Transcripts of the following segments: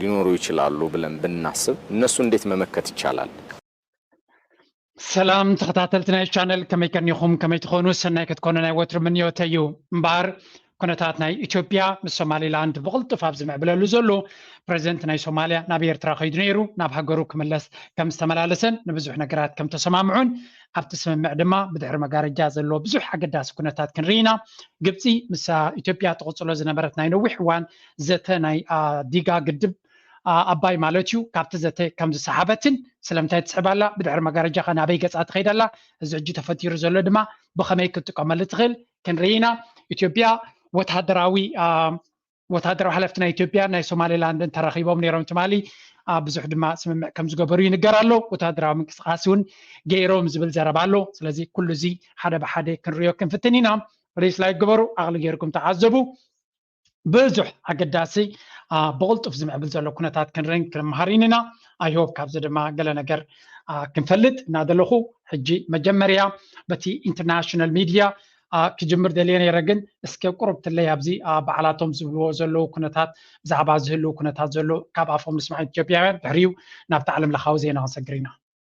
ሊኖሩ ይችላሉ ብለን ብናስብ እነሱ እንዴት መመከት ይቻላል? ሰላም ተኸታተልቲ ናይ ቻነል ከመይ ከኒኹም ከመይ ትኾኑ ሰናይ ክትኮኑ ናይ ወትሩ ምንዮተ እዩ እምበኣር ኩነታት ናይ ኢትዮጵያ ምስ ሶማሊላንድ ብቕልጡፍ ኣብ ዝምዕብለሉ ዘሎ ፕረዚደንት ናይ ሶማልያ ናብ ኤርትራ ከይዱ ነይሩ ናብ ሃገሩ ክምለስ ከም ዝተመላለሰን ንብዙሕ ነገራት ከም ተሰማምዑን ኣብቲ ስምምዕ ድማ ብድሕሪ መጋረጃ ዘለዎ ብዙሕ ኣገዳሲ ኩነታት ክንርኢ ኢና ግብፂ ምስ ኢትዮጵያ ትቕፅሎ ዝነበረት ናይ ነዊሕ እዋን ዘተ ናይ ዲጋ ግድብ ኣባይ ማለት እዩ ካብቲ ዘተ ከም ዝሰሓበትን ስለምንታይ ትስሕብ ኣላ ብድሕሪ መጋረጃ ከ ናበይ ገፃ ትኸይድ ኣላ እዚ ሕጂ ተፈጢሩ ዘሎ ድማ ብኸመይ ክትጥቀመሉ ትኽእል ክንርኢ ኢና ኢትዮጵያ ወታደራዊ ወታደራዊ ሓለፍቲ ናይ ኢትዮጵያ ናይ ሶማሌላንድን ተራኺቦም ነይሮም ትማሊ ብዙሕ ድማ ስምምዕ ከም ዝገበሩ ይንገር ኣሎ ወታደራዊ ምንቅስቃሴ እውን ገይሮም ዝብል ዘረባ ኣሎ ስለዚ ኩሉ እዚ ሓደ ብሓደ ክንሪዮ ክንፍትን ኢና ፕሊስ ላይክ ግበሩ ዓቕሊ ገይርኩም ተዓዘቡ ብዙሕ ኣገዳሲ ብቕልጡፍ ዝምዕብል ዘሎ ኩነታት ክንርን ክንምሃሪን ኢና ኣይሆብ ካብዚ ድማ ገለ ነገር ክንፈልጥ እናደለኹ ሕጂ መጀመርያ በቲ ኢንተርናሽናል ሚድያ ክጅምር ደልየ ነይረ ግን እስከ ቁሩብ ትለይ ኣብዚ በዓላቶም ዝብልዎ ዘለዉ ኩነታት ብዛዕባ ዝህልው ኩነታት ዘሎ ካብ ኣፎም ንስማዕ ኢትዮጵያውያን ድሕሪኡ ናብቲ ዓለም ለኻዊ ዜና ክንሰግር ኢና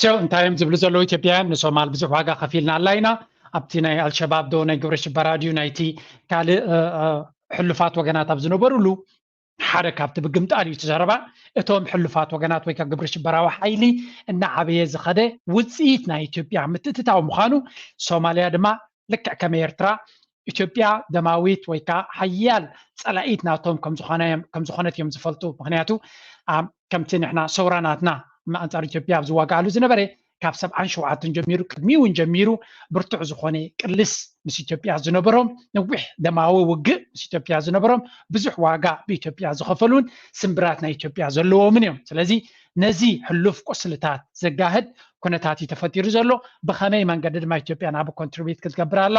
ሴው እንታይ እዮም ዝብሉ ዘለዉ ኢትዮጵያውያን ንሶማል ብዙሕ ዋጋ ከፊልና ኣላ ኢና ኣብቲ ናይ ኣልሸባብ ዶ ናይ ግብረ ሽበራ ድዩ ናይቲ ካልእ ሕሉፋት ወገናት ኣብ ዝነበሩሉ ሓደ ካብቲ ብግምጣል እዩ ትዘረባ እቶም ሕሉፋት ወገናት ወይ ካብ ግብረ ሽበራዊ ሓይሊ እናዓበየ ዝኸደ ውፅኢት ናይ ኢትዮጵያ ምትእትታው ምዃኑ ሶማልያ ድማ ልክዕ ከም ኤርትራ ኢትዮጵያ ደማዊት ወይ ከዓ ሓያል ፀላኢት ናቶም ከምዝኾነት እዮም ዝፈልጡ ምክንያቱ ከምቲ ንሕና ሰውራ ናትና ኣንፃር ኢትዮጵያ ኣብ ዝዋጋኣሉ ዝነበረ ካብ ሰብዓን ሸውዓትን ጀሚሩ ቅድሚ እውን ጀሚሩ ብርቱዕ ዝኾነ ቅልስ ምስ ኢትዮጵያ ዝነበሮም ነዊሕ ደማዊ ውግእ ምስ ኢትዮጵያ ዝነበሮም ብዙሕ ዋጋ ብኢትዮጵያ ዝኸፈሉን ስምብራት ናይ ኢትዮጵያ ዘለዎምን እዮም ስለዚ ነዚ ሕሉፍ ቁስልታት ዘጋህድ ኩነታት እዩ ተፈጢሩ ዘሎ ብኸመይ መንገዲ ድማ ኢትዮጵያ ናብ ኮንትሪቢት ክትገብር ኣላ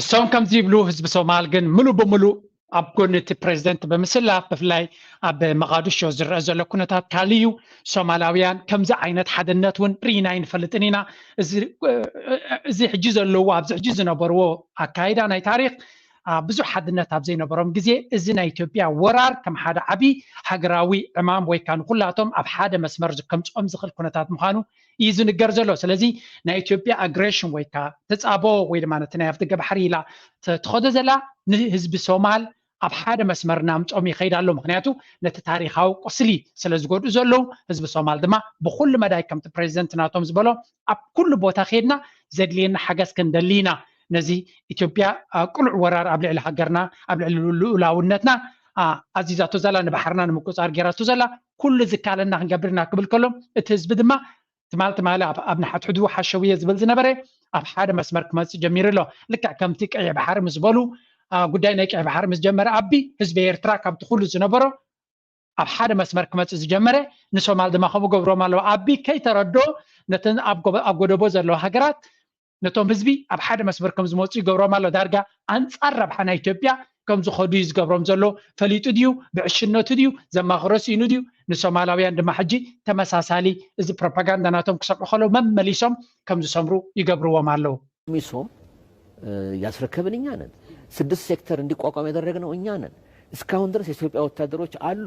እሶም ከምዚ ይብሉ ህዝቢ ሶማል ግን ምሉእ ብምሉእ ኣብ ጎኒ እቲ ፕሬዚደንት ብምስላፍ ብፍላይ ኣብ መቃድሾ ዝረአ ዘሎ ኩነታት ካልእ እዩ ሶማላውያን ከምዚ ዓይነት ሓደነት እውን ርኢና ኣይንፈልጥን ኢና እዚ ሕጂ ዘለዎ ኣብዚ ሕጂ ዝነበርዎ ኣካይዳ ናይ ታሪክ ብዙሕ ሓድነት ኣብ ዘይነበሮም ግዜ እዚ ናይ ኢትዮጵያ ወራር ከም ሓደ ዓብዪ ሃገራዊ ዕማም ወይ ከዓ ንኩላቶም ኣብ ሓደ መስመር ከምፅኦም ዝኽእል ኩነታት ምዃኑ እዩ ዝንገር ዘሎ ስለዚ ናይ ኢትዮጵያ ኣግሬሽን ወይ ከዓ ተፃቦ ወይ ድማ ነቲ ናይ ኣብቲ ገባሕሪ ኢላ ትኸዶ ዘላ ንህዝቢ ሶማል ኣብ ሓደ መስመር እናምፆም ይኸይድ ኣሎ ምክንያቱ ነቲ ታሪካዊ ቁስሊ ስለ ዝጎድኡ ዘለዉ ህዝቢ ሶማል ድማ ብኩሉ መዳይ ከምቲ ፕሬዚደንት ናቶም ዝበሎ ኣብ ኩሉ ቦታ ከድና ዘድልየና ሓገዝ ክንደሊ ኢና ነዚ ኢትዮጵያ ቅሉዕ ወራር ኣብ ልዕሊ ሃገርና ኣብ ልዕሊ ልኡላውነትና ኣዚዛቶ ዘላ ንባሕርና ንምቁፃር ገይራቶ ዘላ ኩሉ ዝከኣለና ክንገብር ኢና ክብል ከሎ እቲ ህዝቢ ድማ ትማል ትማሊ ኣብ ንሓድሕዱ ሓሸውየ ዝብል ዝነበረ ኣብ ሓደ መስመር ክመፅእ ጀሚሩ ኣሎ ልክዕ ከምቲ ቀይሕ ባሕሪ ምስ በሉ ጉዳይ ናይ ቀይሕ ባሕሪ ምስ ጀመረ ኣቢ ህዝቢ ኤርትራ ካብቲ ኩሉ ዝነበሮ ኣብ ሓደ መስመር ክመፅእ ዝጀመረ ንሶማል ድማ ከምኡ ገብሮም ኣለዉ ኣቢ ከይተረዶ ነተን ኣብ ጎደቦ ዘለዋ ሃገራት ነቶም ህዝቢ ኣብ ሓደ መስመር ከም ዝመጹ ይገብሮም ኣሎ ዳርጋ ኣንጻር ረብሓ ናይ ኢትዮጵያ ከም ዝኸዱ እዩ ዝገብሮም ዘሎ ፈሊጡ ድዩ ብዕሽነቱ ድዩ ዘማኽሮ ስኢኑ ድዩ ንሶማላውያን ድማ ሕጂ ተመሳሳሊ እዚ ፕሮፓጋንዳ ናቶም ክሰምዑ ከለዉ መመሊሶም ከም ዝሰምሩ ይገብርዎም ኣለዉ ሚሶ ያስረከብን እኛ ነን። ስድስት ሴክተር እንዲቋቋም ያደረግነው እኛ ነን። እስካሁን ድረስ የኢትዮጵያ ወታደሮች አሉ።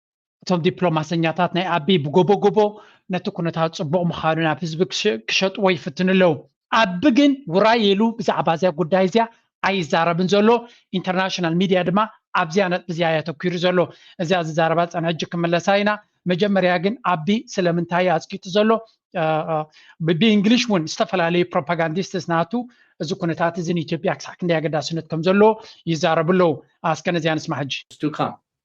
እቶም ዲፕሎማሰኛታት ናይ ኣቢይ ብጎቦጎቦ ነቲ ኩነታት ጽቡቕ ምዃኑ ናብ ህዝቢ ክሸጥዎ ይፍትኑ ኣለዉ። ኣቢ ግን ውራይ ኢሉ ብዛዕባ እዚኣ ጉዳይ እዚኣ ኣይዛረብን ዘሎ፣ ኢንተርናሽናል ሚድያ ድማ ኣብዚኣ ነጥቢ እዚኣ እዩ ኣተኲሩ ዘሎ። እዚኣ ዝዛረባ ዝጸንሐ ሕጂ ክምለሳ ኢና። መጀመርያ ግን ኣቢ ስለምንታይ እዩ ኣጽቂጡ ዘሎ ብእንግሊሽ እውን ዝተፈላለዩ ፕሮፓጋንዲስትስ ናቱ እዚ ኩነታት እዚ ንኢትዮጵያ ክሳዕ ክንደይ ኣገዳስነት ከም ዘለዎ ይዛረቡ ኣለዉ። ኣስከ ነዚኣ ንስማ ሕጂ።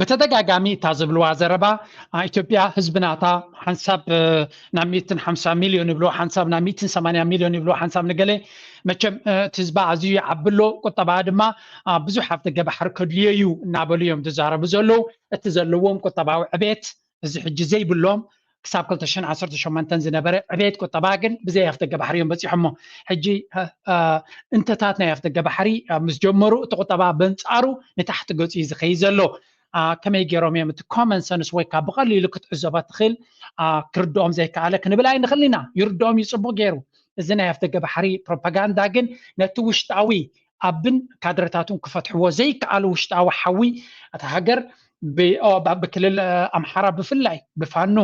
ብተደጋጋሚ እታ ዝብልዋ ዘረባ ኢትዮጵያ ህዝቢ ናታ ሓንሳብ ናብ ሚትን ሓምሳ ሚልዮን ይብልዎ ሓንሳብ ናብ ሚትን ሰማንያ ሚልዮን ይብልዎ ሓንሳብ ንገለ መቸም እቲ ህዝባ ኣዝዩ ይዓቢ ኣሎ ቁጠባ ድማ ብዙሕ ኣፍደገ ባሕሪ ከድልዮ እዩ እናበሉ እዮም ዝዛረቡ ዘለዉ እቲ ዘለዎም ቁጠባዊ ዕቤት እዚ ሕጂ ዘይብሎም ክሳብ 218 ዝነበረ ዕብየት ቁጠባ ግን ብዘይ ኣፍደገ ባሕሪ እዮም በፂሖሞ ሕጂ እንተታት ናይ ኣፍደገ ባሕሪ ምስ ጀመሩ እቲ ቁጠባ በንፃሩ ንታሕቲ ገፂ እዩ ዝኸይ ዘሎ ከመይ ገይሮም እዮም እቲ ኮመን ሰንስ ወይ ካብ ብቐሊሉ ክትዕዘቦ ትኽእል ክርድኦም ዘይከኣለ ክንብል ኣይንኽእል ኢና ይርድኦም እዩ ፅቡቅ ገይሩ እዚ ናይ ኣፍደገ ባሕሪ ፕሮፓጋንዳ ግን ነቲ ውሽጣዊ ኣብን ካድረታቱን ክፈትሕዎ ዘይከኣሉ ውሽጣዊ ሓዊ እታ ሃገር ኣብ ክልል ኣምሓራ ብፍላይ ብፋኖ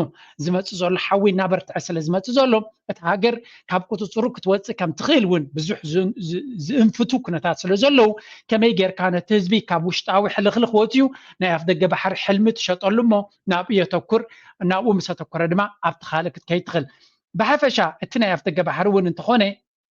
ዝመፅእ ዘሎ ሓዊ እናበርትዐ ስለ ዝመፅእ ዘሎ እታ ሃገር ካብ ቁፅፅሩ ክትወፅእ ከም ትኽእል እውን ብዙሕ ዝእንፍቱ ኩነታት ስለ ዘለዉ ከመይ ጌርካ ነቲ ህዝቢ ካብ ውሽጣዊ ሕልኽልኽ ወፅዩ ናይ ኣፍ ደገ ባሕሪ ሕልሚ ትሸጠሉ እሞ ናብኡ የተኩር ናብኡ ምስ ኣተኮረ ድማ ኣብቲ ካልእ ክትከይድ ትኽእል ብሓፈሻ እቲ ናይ ኣፍ ደገ ባሕሪ እውን እንተኾነ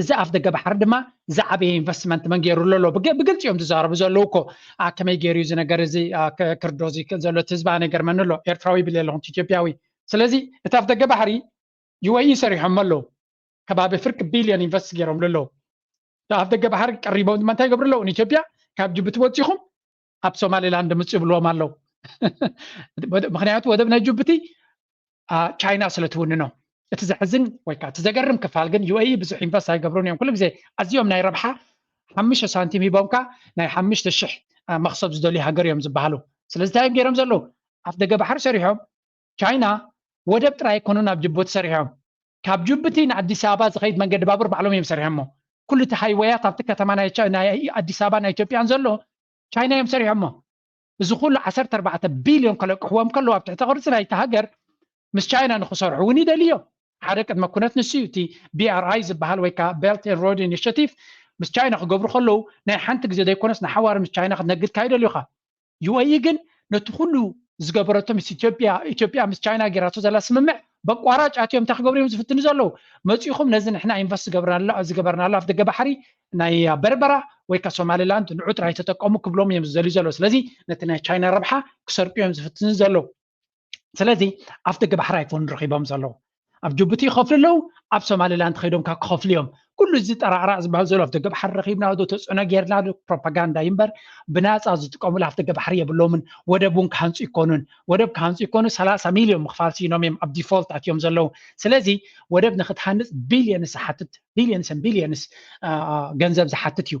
እዚ ኣፍ ደገ ባሕሪ ድማ ዝዓበየ ኢንቨስትመንት መን ገይሩ ኣሎ ብግልፂ እዮም ዝዛረቡ ዘለዉ እኮ ከመይ ገይሩ እዚ ነገር እዚ ክርዶ እዚ ዘሎ እቲ ህዝቢ ኣነ ይገርመኒ ኣሎ ኤርትራዊ ይብል ኣለኹ ኢትዮጵያዊ ስለዚ እቲ ኣፍ ደገ ባሕሪ ዩኤኢ ሰሪሖሞ ኣለዉ ከባቢ ፍርቂ ቢልዮን ኢንቨስት ገይሮምሉ ኣለዉ ኣፍ ደገ ባሕሪ ቀሪቦም ድማ እንታይ ይገብሩ ኣለዉ ንኢትዮጵያ ካብ ጅቡቲ ወፂኹም ኣብ ሶማሊላንድ ምፁ ይብልዎም ኣለው ምክንያቱ ወደብ ናይ ጅቡቲ ቻይና ስለ ትውንኖ እቲ ዘሕዝን ወይ ከዓ እቲ ዘገርም ክፋል ግን ዩኤኢ ብዙሕ ኢንቨስት ኣይገብሩን እዮም ኩሉ ግዜ ኣዝዮም ናይ ረብሓ ሓሙሽተ ሳንቲም ሂቦምካ ናይ ሓሙሽተ ሽሕ መክሰብ ዝደልዩ ሃገር እዮም ዝበሃሉ ስለዚ እንታይ እዮም ገይሮም ዘለዉ ኣፍ ደገ ባሕሪ ሰሪሖም ቻይና ወደብ ጥራይ ኣይኮኑን ኣብ ጅቡቲ ሰሪሖም። ካብ ጅቡቲ ንኣዲስ ኣበባ ዝኸይድ መንገዲ ባቡር ባዕሎም እዮም ሰሪሖሞ። ኩሉ እቲ ሃይወያት ኣብቲ ከተማ ናይ ኣዲስ ኣበባን ናይ ኢትዮጵያን ዘሎ ቻይና እዮም ሰሪሖሞ። እዚ ኩሉ ዓሰርተ ኣርባዕተ ቢልዮን ከለቅሕዎም ከለዉ ኣብ ትሕተ ቅርጺ ናይቲ ሃገር ምስ ቻይና ንክሰርሑ እውን ይደልዩ እዮም። ሓደ ቅድመ ኩነት ንሱ እዩ። እቲ BRI ዝበሃል ወይ ከኣ Belt and Road Initiative ምስ ቻይና ክገብሩ ከለዉ ናይ ሓንቲ ግዜ ዘይኮነስ ንሓዋሩ ምስ ቻይና ክትነግድ ካይደልዩኻ። ዩኤኢ ግን ነቲ ኩሉ ዝገበረቶ ምስ ኢትዮጵያ ኢትዮጵያ ምስ ቻይና ጌራቶ ዘላ ስምምዕ በቋራጭ ኣትዮም እንታይ ክገብሩ እዮም ዝፍትኑ ዘለዉ መፂኹም ነዚ ንሕና ኢንቨስት ዝገብርናላ ዝገበርናላ ኣፍ ደገ ባሕሪ ናይ በርበራ ወይ ካ ሶማሊላንድ ንዑ ጥራይ ተጠቀሙ ክብሎም እዮም ዝደልዩ ዘለዉ ስለዚ ነቲ ናይ ቻይና ረብሓ ክሰርቁ እዮም ዝፍትኑ ዘለዉ ስለዚ ኣብቲ ግባሕር ኣይፎን ረኪቦም ዘለዉ ኣብ ጅቡቲ ይኸፍሉ ኣለዉ ኣብ ሶማሊላንድ ከይዶም ካብ ክኸፍሉ እዮም ኩሉ እዚ ጠራዕራዕ ዝበሃል ዘሎ ኣብቲ ግባሕር ረኪብና ዶ ተፅዕኖ ጌርና ዶ ፕሮፓጋንዳ እዩ እምበር ብናፃ ዝጥቀሙሉ ኣብቲ ግባሕር የብሎምን ወደብ እውን ክሃንፁ ይኮኑን ወደብ ክሃንፁ ይኮኑ ሰላሳ ሚልዮን ምክፋል ሲኖም እዮም ኣብ ዲፎልት ኣትዮም ዘለዉ ስለዚ ወደብ ንክትሃንፅ ቢልዮንስ ዝሓትት ቢልዮንስን ቢልዮንስ ገንዘብ ዝሓትት እዩ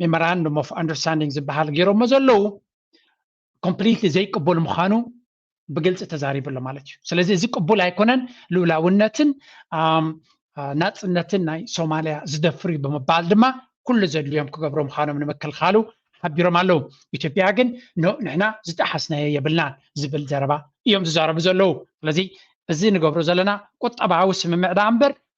ሜሞራንዱም ኦፍ ኣንደርስታንዲንግ ዝበሃል ገይሮሞ ዘለዉ ኮምፕሊትሊ ዘይቅቡል ምዃኑ ብግልፂ ተዛሪቡ ኣሎ ማለት እዩ ስለዚ እዚ ቅቡል ኣይኮነን ልኡላውነትን ናፅነትን ናይ ሶማልያ ዝደፍር እዩ ብምባል ድማ ኩሉ ዘድልዮም ክገብሩ ምዃኖም ንምክልኻሉ ሓቢሮም ኣለዉ ኢትዮጵያ ግን ንሕና ዝጠሓስናዮ የብልናን ዝብል ዘረባ እዮም ዝዛረቡ ዘለዉ ስለዚ እዚ ንገብሮ ዘለና ቁጠባዊ ስምምዕ ዳኣ እምበር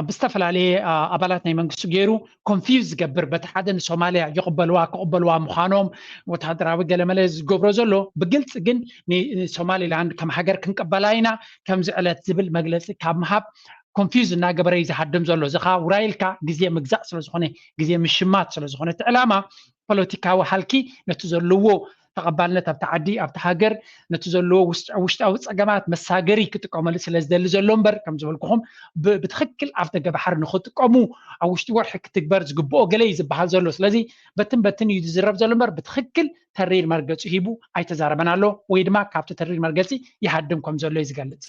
ኣብ ዝተፈላለየ ኣባላት ናይ መንግስቱ ገይሩ ኮንፊውዝ ዝገብር በቲ ሓደ ንሶማልያ ይቕበልዋ ክቕበልዋ ምዃኖም ወተሃደራዊ ገለመለ ዝገብሮ ዘሎ ብግልፂ ግን ንሶማሊላንድ ከም ሃገር ክንቅበላ ኢና ከምዚ ዕለት ዝብል መግለፂ ካብ ምሃብ ኮንፊውዝ እናገበረ እዩ ዝሃድም ዘሎ እዚ ከዓ ውራይልካ ግዜ ምግዛእ ስለዝኾነ ግዜ ምሽማት ስለዝኾነ እቲ ዕላማ ፖለቲካዊ ሃልኪ ነቲ ዘለዎ ተቐባልነት ኣብቲ ዓዲ ኣብቲ ሃገር ነቲ ዘለዎ ውሽጣዊ ፀገማት መሳገሪ ክጥቀመሉ ስለ ዝደሊ ዘሎ እምበር ከም ዝበልኩኹም ብትክክል ኣፍ ደገ ባሕሪ ንክጥቀሙ ኣብ ውሽጢ ወርሒ ክትግበር ዝግብኦ ገለ እዩ ዝበሃል ዘሎ ስለዚ በትን በትን እዩ ዝዝረብ ዘሎ እምበር ብትክክል ተሪር መርገፂ ሂቡ ኣይተዛረበን ኣሎ ወይ ድማ ካብቲ ተሪር መርገፂ ይሃድም ከም ዘሎ እዩ ዝገልፅ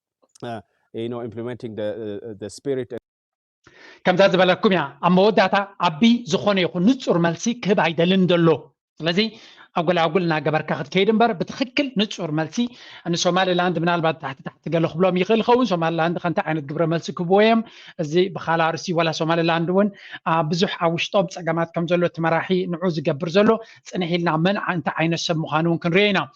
ከምዛ ዝበለኩም እያ ኣብ መወዳእታ ኣቢ ዝኾነ ይኹን ንፁር መልሲ ክህብ ኣይደልን ዘሎ ስለዚ ኣጎላጉል እናገበርካ ክትከይድ እምበር ብትክክል ንፁር መልሲ ንሶማሊላንድ ምናልባት ታሕቲ ታሕቲ ገለ ክብሎም ይኽእል ይኸውን ሶማሊላንድ ከንታ ዓይነት ግብረ መልሲ ክህብዎ እዮም እዚ ብካላ ርሲ ወላ ሶማሊላንድ እውን ብዙሕ ኣብ ውሽጦም ፀገማት ከም ዘሎ እቲ መራሒ ንዑ ዝገብር ዘሎ ፅንሕ ኢልና መን እንታይ ዓይነት ሰብ ምዃኑ እውን ክንሪኦ ኢና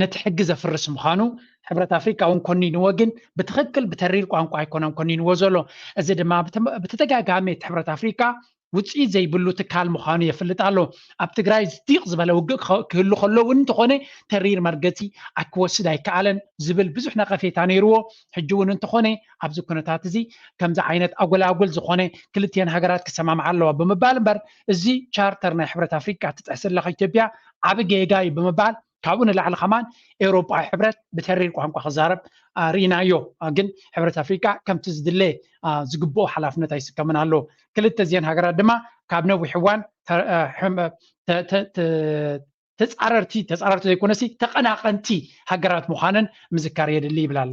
ነቲ ሕጊ ዘፍርስ ምዃኑ ሕብረት ኣፍሪቃ እውን ኮኒንዎ ግን ብትኽክል ብተሪር ቋንቋ ኣይኮነን ኮኒንዎ ዘሎ እዚ ድማ ብተደጋጋሚ እቲ ሕብረት ኣፍሪቃ ውፅኢት ዘይብሉ ትካል ምዃኑ የፍልጥ ኣሎ ኣብ ትግራይ ዝዲቕ ዝበለ ውግእ ክህሉ ከሎ እውን እንተኾነ ተሪር መርገፂ ኣክወስድ ኣይከኣለን ዝብል ብዙሕ ነቐፌታ ነይርዎ ሕጂ እውን እንተኾነ ኣብዚ ኩነታት እዚ ከምዚ ዓይነት ኣጎላጉል ዝኾነ ክልትኤን ሃገራት ክሰማምዓ ኣለዋ ብምባል እምበር እዚ ቻርተር ናይ ሕብረት ኣፍሪቃ ትጥሕስ ኣለካ ኢትዮጵያ ዓብ ጌጋ እዩ ብምባል ካብኡ ንላዕሊ ከማን ኤውሮጳዊ ሕብረት ብተሪር ቋንቋ ክዛረብ ርኢናዮ ግን ሕብረት ኣፍሪቃ ከምቲ ዝድለ ዝግብኦ ሓላፍነት ኣይስከምን ኣሎ ክልተ እዚአን ሃገራት ድማ ካብ ነዊሕ እዋን ተፃረርቲ ተፃረርቲ ዘይኮነሲ ተቐናቐንቲ ሃገራት ምዃነን ምዝካር የድሊ ይብል ኣሎ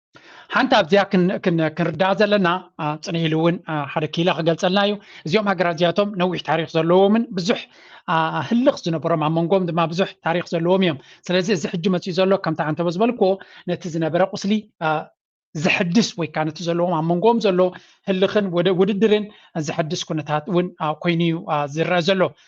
ሓንቲ ኣብዚኣ ክንርዳእ ዘለና ፅንሕ ኢሉ እውን ሓደ ክኢላ ክገልፀልና እዩ እዚኦም ሃገራት እዚኣቶም ነዊሕ ታሪክ ዘለዎምን ብዙሕ ህልኽ ዝነበሮም ኣብ መንጎም ድማ ብዙሕ ታሪክ ዘለዎም እዮም ስለዚ እዚ ሕጂ መፅኡ ዘሎ ከምቲ ኣንተበ ዝበልክዎ ነቲ ዝነበረ ቁስሊ ዘሐድስ ወይ ከዓ ነቲ ዘለዎም ኣብ መንጎም ዘሎ ህልኽን ውድድርን ዘሐድስ ኩነታት እውን ኮይኑ እዩ ዝረአ ዘሎ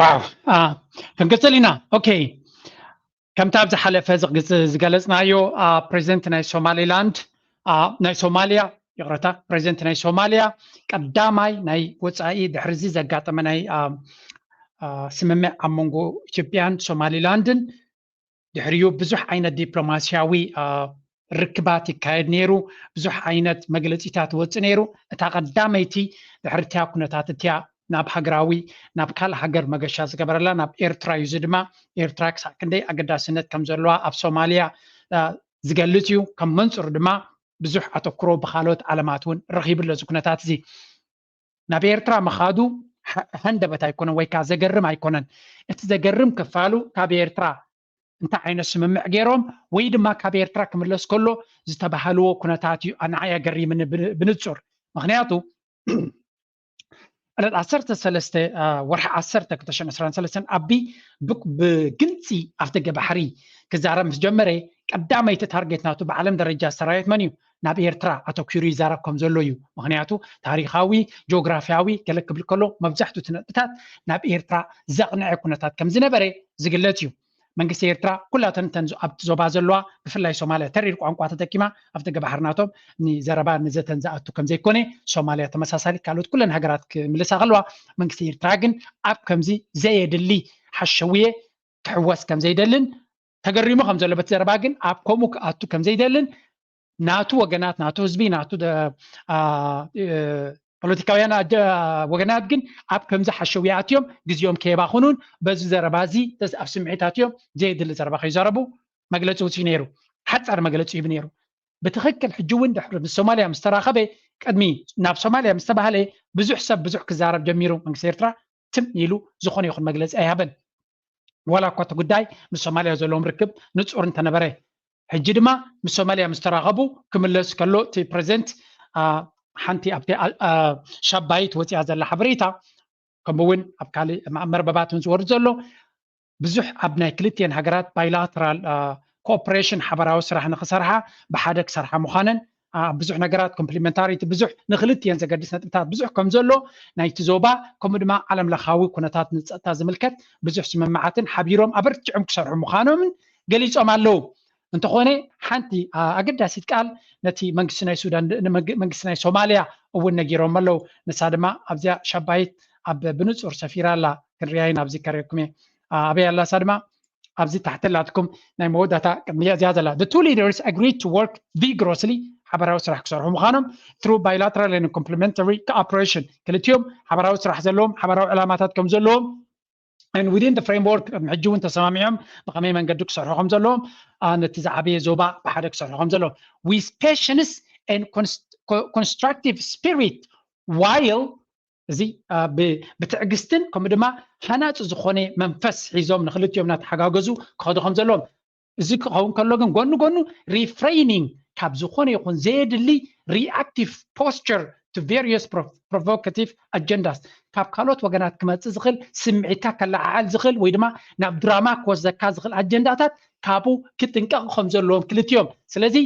ዋው ክንቅፅል ኢና ኦኬ ከምቲ ኣብ ዝሓለፈ ዝገለፅናዮ ፕሬዚደንት ናይ ሶማሊላንድ ናይ ሶማሊያ ይቕረታ ፕሬዚደንት ናይ ሶማሊያ ቀዳማይ ናይ ወፃኢ ድሕሪዚ ዘጋጠመ ናይ ስምምዕ ኣብ መንጎ ኢትዮጵያን ሶማሊላንድን ድሕሪኡ ብዙሕ ዓይነት ዲፕሎማስያዊ ርክባት ይካየድ ነይሩ ብዙሕ ዓይነት መግለፂታት ይወፅእ ነይሩ እታ ቀዳመይቲ ድሕርቲያ ኩነታት እቲያ ናብ ሃገራዊ ናብ ካልእ ሃገር መገሻ ዝገበረላ ናብ ኤርትራ እዩ እዚ ድማ ኤርትራ ክሳዕ ክንደይ ኣገዳስነት ከም ዘለዋ ኣብ ሶማልያ ዝገልፅ እዩ ከም መንፅሩ ድማ ብዙሕ ኣተኩሮ ብካልኦት ዓለማት እውን ረኪብሎ እዚ ኩነታት እዚ ናብ ኤርትራ ምኻዱ ሃንደበት ኣይኮነን ወይ ከኣ ዘገርም ኣይኮነን። እቲ ዘገርም ክፋሉ ካብ ኤርትራ እንታይ ዓይነት ስምምዕ ገይሮም ወይ ድማ ካብ ኤርትራ ክምለስ ከሎ ዝተባሃልዎ ኩነታት እዩ ንዓይ ኣገሪምኒ ብንጹር። ምኽንያቱ ዕለት ዓሰርተ ሰለስተ ወርሒ ዓሰርተ ክልተ ሽሕን ዕስራን ሰለስተን ኣቢ ብግልጺ ኣፍደገ ባሕሪ ክዛረብ ምስ ጀመረ ቀዳመይቲ ታርጌት ናቱ ብዓለም ደረጃ ሰራዊት መን እዩ ናብ ኤርትራ ኣተኪሩ ይዛረብ ከም ዘሎ እዩ ምክንያቱ ታሪካዊ ጆግራፍያዊ ገለ ክብል ከሎ መብዛሕቱ እቲ ነጥብታት ናብ ኤርትራ ዘቅንዐ ኩነታት ከም ዝነበረ ዝግለጽ እዩ መንግስቲ ኤርትራ ኩላተን እተን ኣብቲ ዞባ ዘለዋ ብፍላይ ሶማልያ ተሪር ቋንቋ ተጠቂማ ኣብ ደገ ባሕሪ ናቶም ንዘረባ ንዘተን ዝኣቱ ከም ዘይኮነ ሶማልያ ተመሳሳሊ ካልኦት ኩለን ሃገራት ክምልሳ ከለዋ መንግስቲ ኤርትራ ግን ኣብ ከምዚ ዘየድሊ ሓሸውየ ክሕወስ ከም ዘይደልን ተገሪሙ ከም ዘሎ በቲ ዘረባ ግን ኣብ ከምኡ ክኣቱ ከም ዘይደልን ናቱ ወገናት ናቱ ህዝቢ ናቱ ፖለቲካውያን ወገናት ግን ኣብ ከምዚ ሓሸው ይኣትዮም ግዜኦም ከየባኽኑን በዚ ዘረባ እዚ ኣብ ስምዒት ኣትዮም ዘየድሊ ዘረባ ከይዘረቡ መግለፂ ውፅኢ ነይሩ ሓፃር መግለፂ ሂቡ ነይሩ ብትክክል ሕጂ እውን ድሕሪ ምስ ሶማልያ ምስ ተራኸበ ቅድሚ ናብ ሶማልያ ምስ ተባሃለ ብዙሕ ሰብ ብዙሕ ክዛረብ ጀሚሩ መንግስቲ ኤርትራ ትም ኢሉ ዝኾነ ይኹን መግለፂ ኣይሃበን። ዋላ እኳ እቲ ጉዳይ ምስ ሶማሊያ ዘለዎም ርክብ ንፁር እንተነበረ። ሕጂ ድማ ምስ ሶማሊያ ምስ ተራኸቡ ክምለስ ከሎ እቲ ፕረዚደንት ሓንቲ ኣብቲ ሻባይት ወፂኣ ዘላ ሓበሬታ ከምኡ እውን ኣብ ካልእ መርበባት እውን ዝወርድ ዘሎ ብዙሕ ኣብ ናይ ክልቲኤን ሃገራት ባይላተራል ኮኦፕሬሽን ሓባራዊ ስራሕ ንክሰርሓ ብሓደ ክሰርሓ ምዃነን ኣብ ብዙሕ ነገራት ኮምፕሊመንታሪቲ ብዙሕ ንክልቲኤን ዘገድስ ነጥብታት ብዙሕ ከም ዘሎ ናይቲ ዞባ ከምኡ ድማ ዓለም ለኻዊ ኩነታት ንፀጥታ ዝምልከት ብዙሕ ስምምዓትን ሓቢሮም ኣበርቲዖም ክሰርሑ ምዃኖምን ገሊፆም ኣለዉ። እንተኾነ ሓንቲ ኣገዳሲት ቃል ነቲ መንግስቲ ናይ ሱዳን መንግስቲ ናይ ሶማልያ እውን ነጊሮም ኣለው ንሳ ድማ ኣብዚያ ሻባይት ኣብ ብንጹር ሰፊራ ኣላ ክንሪኣይ ናብ ዝከረኩም እየ ኣበይ ኣላ ንሳ ድማ ኣብዚ ታሕቲ ኣላትኩም ናይ መወዳእታ ቅድሚ እዚኣ ዘላ the two leaders agreed to work vigorously ሓበራዊ ስራሕ ክሰርሑ ምዃኖም through bilateral and complementary cooperation ክልቲኦም ሓበራዊ ስራሕ ዘለዎም ሓበራዊ ዕላማታት ከም ዘለዎም and within the framework ቅድሚ ሕጂ እውን ተሰማሚዖም ብኸመይ መንገዲ ክሰርሑ ከም ዘለዎም ነቲ ዝዓበየ ዞባ ብሓደ ክሰርሑ ከም ዘለዎም with patience and constructive spirit while እዚ ብትዕግስትን ከምኡ ድማ ሃናፂ ዝኾነ መንፈስ ሒዞም ንክልቲኦም እናተሓጋገዙ ክኸዱ ከም ዘለዎም እዚ ክኸውን ከሎ ግን ጎኒ ጎኑ ሪፍሬይኒንግ ካብ ዝኾነ ይኹን ዘየድሊ ሪኣክቲቭ ፖስቸር ቱ ቬሪየስ ፕሮቮካቲቭ ኣጀንዳስ ካብ ካልኦት ወገናት ክመፅእ ዝኽእል ስምዒትካ ከለዓዓል ዝኽእል ወይ ድማ ናብ ድራማ ክወስደካ ዝኽእል ኣጀንዳታት ካብኡ ክጥንቀቕ ከም ዘለዎም ክልቲኦም ስለዚ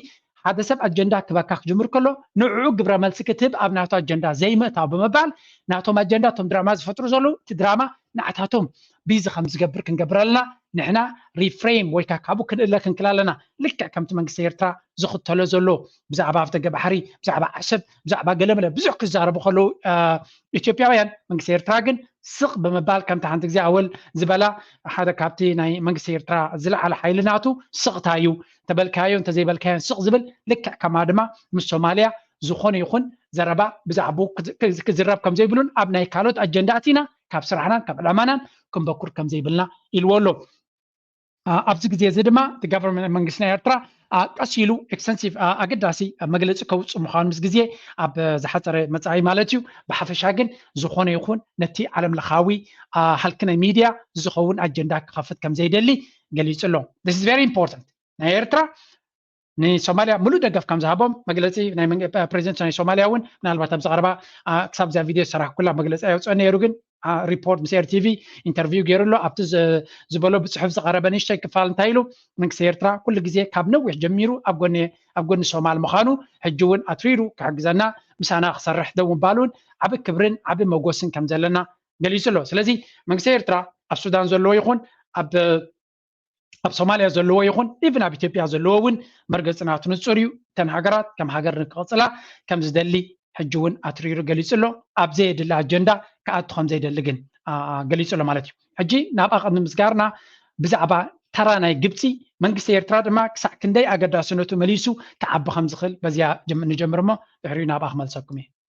ሓደ ሰብ ኣጀንዳ ክበካ ክጅምር ከሎ ንዕዑ ግብረ መልሲ ክትህብ ኣብ ናቱ ኣጀንዳ ዘይምእታው ብምባል ናቶም ኣጀንዳ እቶም ድራማ ዝፈጥሩ ዘለዉ እቲ ድራማ ንዓታቶም ቢዚ ከም ዝገብር ክንገብር ኣለና ንሕና ሪፍሬም ወይ ከዓ ካብኡ ክንእለ ክንክል ኣለና ልክዕ ከምቲ መንግስቲ ኤርትራ ዝኽተሎ ዘሎ ብዛዕባ ኣፍደገ ባሕሪ ብዛዕባ ዓሰብ ብዛዕባ ገለመለ ብዙሕ ክዛረቡ ከለዉ ኢትዮጵያውያን መንግስቲ ኤርትራ ግን ስቕ ብምባል ከምቲ ሓንቲ ግዜ ኣወል ዝበላ ሓደ ካብቲ ናይ መንግስቲ ኤርትራ ዝለዓለ ሓይልናቱ ስቕታ እዩ ተበልካዮን ተዘይበልካዮን ስቕ ዝብል ልክዕ ከማ ድማ ምስ ሶማልያ ዝኾነ ይኹን ዘረባ ብዛዕባኡ ክዝረብ ከም ዘይብሉን ኣብ ናይ ካልኦት ኣጀንዳ ኣቲና ካብ ስራሕናን ካብ ዕላማናን ክንበኩር ከም ዘይብልና ኢልዎ ኣሎ ኣብዚ ግዜ እዚ ድማ እቲ ጋቨርንመንት መንግስቲ ናይ ኤርትራ ቀስ ኢሉ ኤክስተንሲቭ ኣገዳሲ መግለፂ ከውፅእ ምዃኑ ምስ ግዜ ኣብ ዝሓፀረ መፃኢ ማለት እዩ ብሓፈሻ ግን ዝኾነ ይኹን ነቲ ዓለም ለኻዊ ሃልኪ ናይ ሚድያ ዝኸውን ኣጀንዳ ክኸፍት ከም ዘይደሊ ገሊጹ ኣሎ this is very important ናይ ኤርትራ ንሶማልያ ምሉእ ደገፍ ከም ዝሃቦም መግለፂ ፕሬዚደንት ናይ ሶማልያ እውን ምናልባት ኣብዚ ቀረባ ክሳብ እዚኣ ቪድዮ ዝሰራሕኩላ መግለፂ ኣይወፅኦ ነይሩ ግን ሪፖርት ምስ ኤር ቲቪ ኢንተርቪው ገይሩ ኣሎ ኣብቲ ዝበሎ ብፅሑፍ ዝቀረበ ንእሽተይ ክፋል እንታይ ኢሉ መንግስቲ ኤርትራ ኩሉ ግዜ ካብ ነዊሕ ጀሚሩ ኣብ ጎኒ ኣብ ጎኒ ሶማል ምዃኑ ሕጂ እውን ኣትሪሩ ክሕግዘና ምሳና ክሰርሕ ደው ምባሉን ዓብ ክብርን ዓብ መጎስን ከም ዘለና ገሊጹ ኣሎ ስለዚ መንግስቲ ኤርትራ ኣብ ሱዳን ዘለዎ ይኹን ኣብ ኣብ ሶማልያ ዘለዎ ይኹን ኢቭን ኣብ ኢትዮጵያ ዘለዎ እውን መርገፂ ናቱ ንፁር እዩ እተን ሃገራት ከም ሃገር ንክቕፅላ ከም ዝደሊ ሕጂ እውን ኣትሪሩ ገሊፁ ኣሎ ኣብ ዘየድሊ ኣጀንዳ ክኣቱ ከም ዘይደሊ ግን ገሊፁ ኣሎ ማለት እዩ ሕጂ ናብ ኣቐሚ ምስጋርና ብዛዕባ ተራ ናይ ግብፂ መንግስቲ ኤርትራ ድማ ክሳዕ ክንደይ ኣገዳስነቱ መሊሱ ክዓቢ ከም ዝኽእል በዚያ ንጀምር እሞ ድሕሪኡ ናብኣ ክመልሰኩም እየ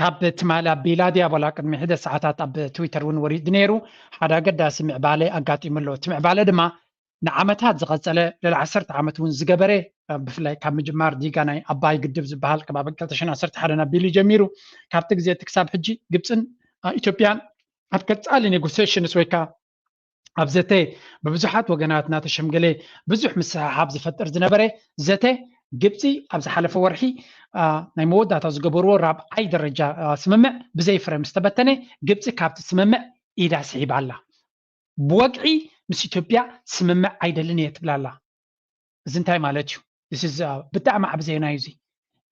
ካብ ትማሊ ኣቢላ ዲያቦላ ቅድሚ ሒደት ሰዓታት ኣብ ትዊተር እውን ወሪዱ ነይሩ። ሓደ ኣገዳሲ ምዕባለ ኣጋጢሙ ኣሎ። እቲ ምዕባለ ድማ ንዓመታት ዝቐጸለ ልዕሊ ዓሰርተ ዓመት እውን ዝገበረ ብፍላይ ካብ ምጅማር ዲጋ ናይ ኣባይ ግድብ ዝበሃል ካብ ኣብ 2011 ኣቢሉ ጀሚሩ ካብቲ ግዜ እቲ ክሳብ ሕጂ ግብፅን ኢትዮጵያን ኣብ ቀጻሊ ኔጎሴሽንስ ወይ ከዓ ኣብ ዘተ ብብዙሓት ወገናት እናተሸምገለ ብዙሕ ምስሕሓብ ዝፈጥር ዝነበረ ዘተ ግብፂ ኣብ ዝሓለፈ ወርሒ ናይ መወዳእታ ዝገበርዎ ራብዓይ ደረጃ ስምምዕ ብዘይ ፍረ ምስ ተበተነ ግብፂ ካብቲ ስምምዕ ኢዳ ስሒባ ኣላ ብወግዒ ምስ ኢትዮጵያ ስምምዕ ኣይደልን እየ ትብላ ኣላ እዚ እንታይ ማለት እዩ? ብጣዕሚ ዓቢ ዜና እዩ እዚ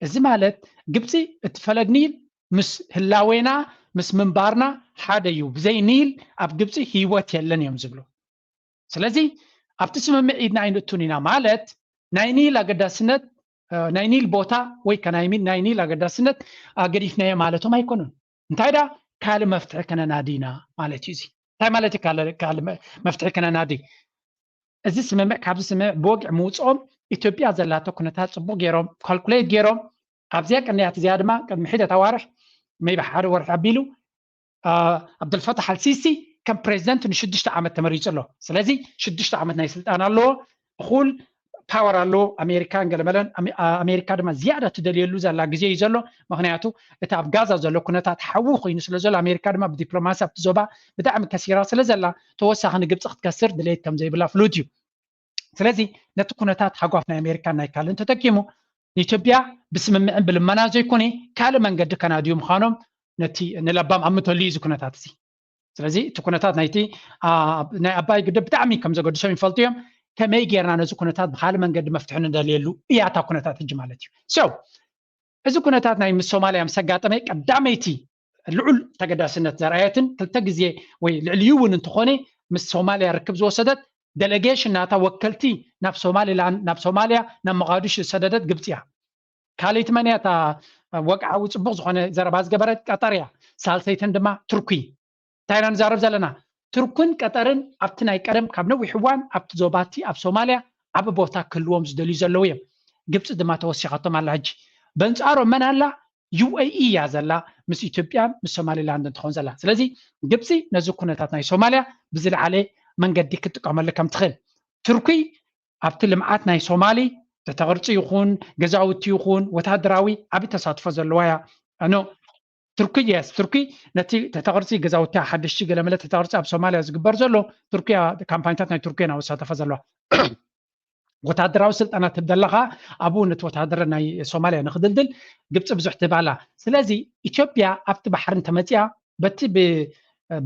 እዚ ማለት ግብጺ እቲ ፈለግ ኒል ምስ ህላዌና ምስ ምንባርና ሓደ እዩ ብዘይ ኒል ኣብ ግብጺ ህይወት የለን እዮም ዝብሉ ስለዚ ኣብቲ ስምምዕ ኢድና ኣይንእቱን ኢና ማለት ናይ ኒል ኣገዳስነት ናይ ኒል ቦታ ወይ ከ ናይ ኒል ኣገዳስነት ኣገዲፍናዮ ማለቶም ኣይኮኑን እንታይ ደኣ ካልእ መፍትሒ ከነናዲ ኢና ማለት እዩ እዚ እንታይ ማለት እዩ ካልእ መፍትሒ ከነናዲ እዚ ስምምዕ ካብዚ ስምምዕ ብወግዒ ምውፅኦም ኢትዮጵያ ዘላቶ ኩነታት ፅቡቅ ገይሮም ካልኩሌት ገይሮም ኣብዚኣ ቀንያት እዚኣ ድማ ቅድሚ ሒደት ኣዋርሕ መይቢ ሓደ ወርሒ ኣቢሉ ዓብደልፈታሕ ኣልሲሲ ከም ፕሬዚደንት ንሽዱሽተ ዓመት ተመሪፁ ኣሎ ስለዚ ሽዱሽተ ዓመት ናይ ስልጣን ኣለዎ እኹል ፓወር ኣሎ ኣሜሪካን ገለመለን ኣሜሪካ ድማ ዝያዳ ትደልየሉ ዘላ ግዜ እዩ ዘሎ ምክንያቱ እቲ ኣብ ጋዛ ዘሎ ኩነታት ሓዊ ኮይኑ ስለ ዘሎ ኣሜሪካ ድማ ብዲፕሎማሲ ኣብቲ ዞባ ብጣዕሚ ከሲራ ስለ ዘላ ተወሳኺ ንግብፂ ክትከስር ድሌት ከም ዘይብላ ፍሉጥ እዩ ስለዚ ነቲ ኩነታት ሃጓፍ ናይ ኣሜሪካን ናይ ካልእን ተጠቂሙ ንኢትዮጵያ ብስምምዕን ብልመና ዘይኮነ ካልእ መንገዲ ከናድዩ ምዃኖም ነቲ ንለባም ኣምተሉ እዩ እዚ ኩነታት እዚ ስለዚ እቲ ኩነታት ናይቲ ናይ ኣባይ ግድብ ብጣዕሚ ከም ዘገድሶም ይፈልጡ እዮም ከመይ ጌርና ነዚ ኩነታት ብካልእ መንገዲ መፍትሒ ንደልየሉ እያ እታ ኩነታት ሕጂ ማለት እዩ ሶ እዚ ኩነታት ናይ ምስ ሶማልያ ምስ ኣጋጠመ ቀዳመይቲ ልዑል ተገዳስነት ዘርኣየትን ክልተ ግዜ ወይ ልዕሊኡ እውን እንተኾነ ምስ ሶማልያ ርክብ ዝወሰደት ደለጌሽን ናታ ወከልቲ ናብ ሶማሊላንድ ናብ ሶማልያ ናብ መቓዱሽ ዝሰደደት ግብፂ እያ ካልእቲ መን እያ እታ ወግዓዊ ፅቡቅ ዝኮነ ዘረባ ዝገበረት ቀጠር እያ ሳልሰይተን ድማ ቱርኪ እንታይ ኢና ንዛረብ ዘለና ቱርክን ቀጠርን ኣብቲ ናይ ቀደም ካብ ነዊሕ እዋን ኣብቲ ዞባቲ ኣብ ሶማልያ ዓብ ቦታ ክህልዎም ዝደልዩ ዘለው እዮም ግብፂ ድማ ተወሲኻቶም ኣላ ሕጂ በንፃሮም መን ኣላ ዩኤኢ እያ ዘላ ምስ ኢትዮጵያን ምስ ሶማሊላንድን ትኾን ዘላ ስለዚ ግብፂ ነዚ ኩነታት ናይ ሶማልያ ብዝለዓለ መንገዲ ክትጥቀመሉ ከም ትኽእል ቱርኪ ኣብቲ ልምዓት ናይ ሶማሊ ዘተ ቅርፂ ይኹን ገዛውቲ ይኹን ወታደራዊ ዓብይ ተሳትፎ ዘለዋ እያ ኣኖ ቱርኪ የስ ቱርኪ ነቲ ተተቅርፂ ገዛውቲ ሓደሽቲ ገለመለ ተተቅርፂ ኣብ ሶማልያ ዝግበር ዘሎ ቱርኪያ ካምፓኒታት ናይ ቱርኪ ናብ ዝሳተፈ ዘለዋ ወታደራዊ ስልጠና ትብ ዘለካ ኣብኡ ነቲ ወታደረ ናይ ሶማልያ ንክድልድል ግብፂ ብዙሕ ትህብ ኣላ ስለዚ ኢትዮጵያ ኣብቲ ባሕሪ እንተመፅያ በቲ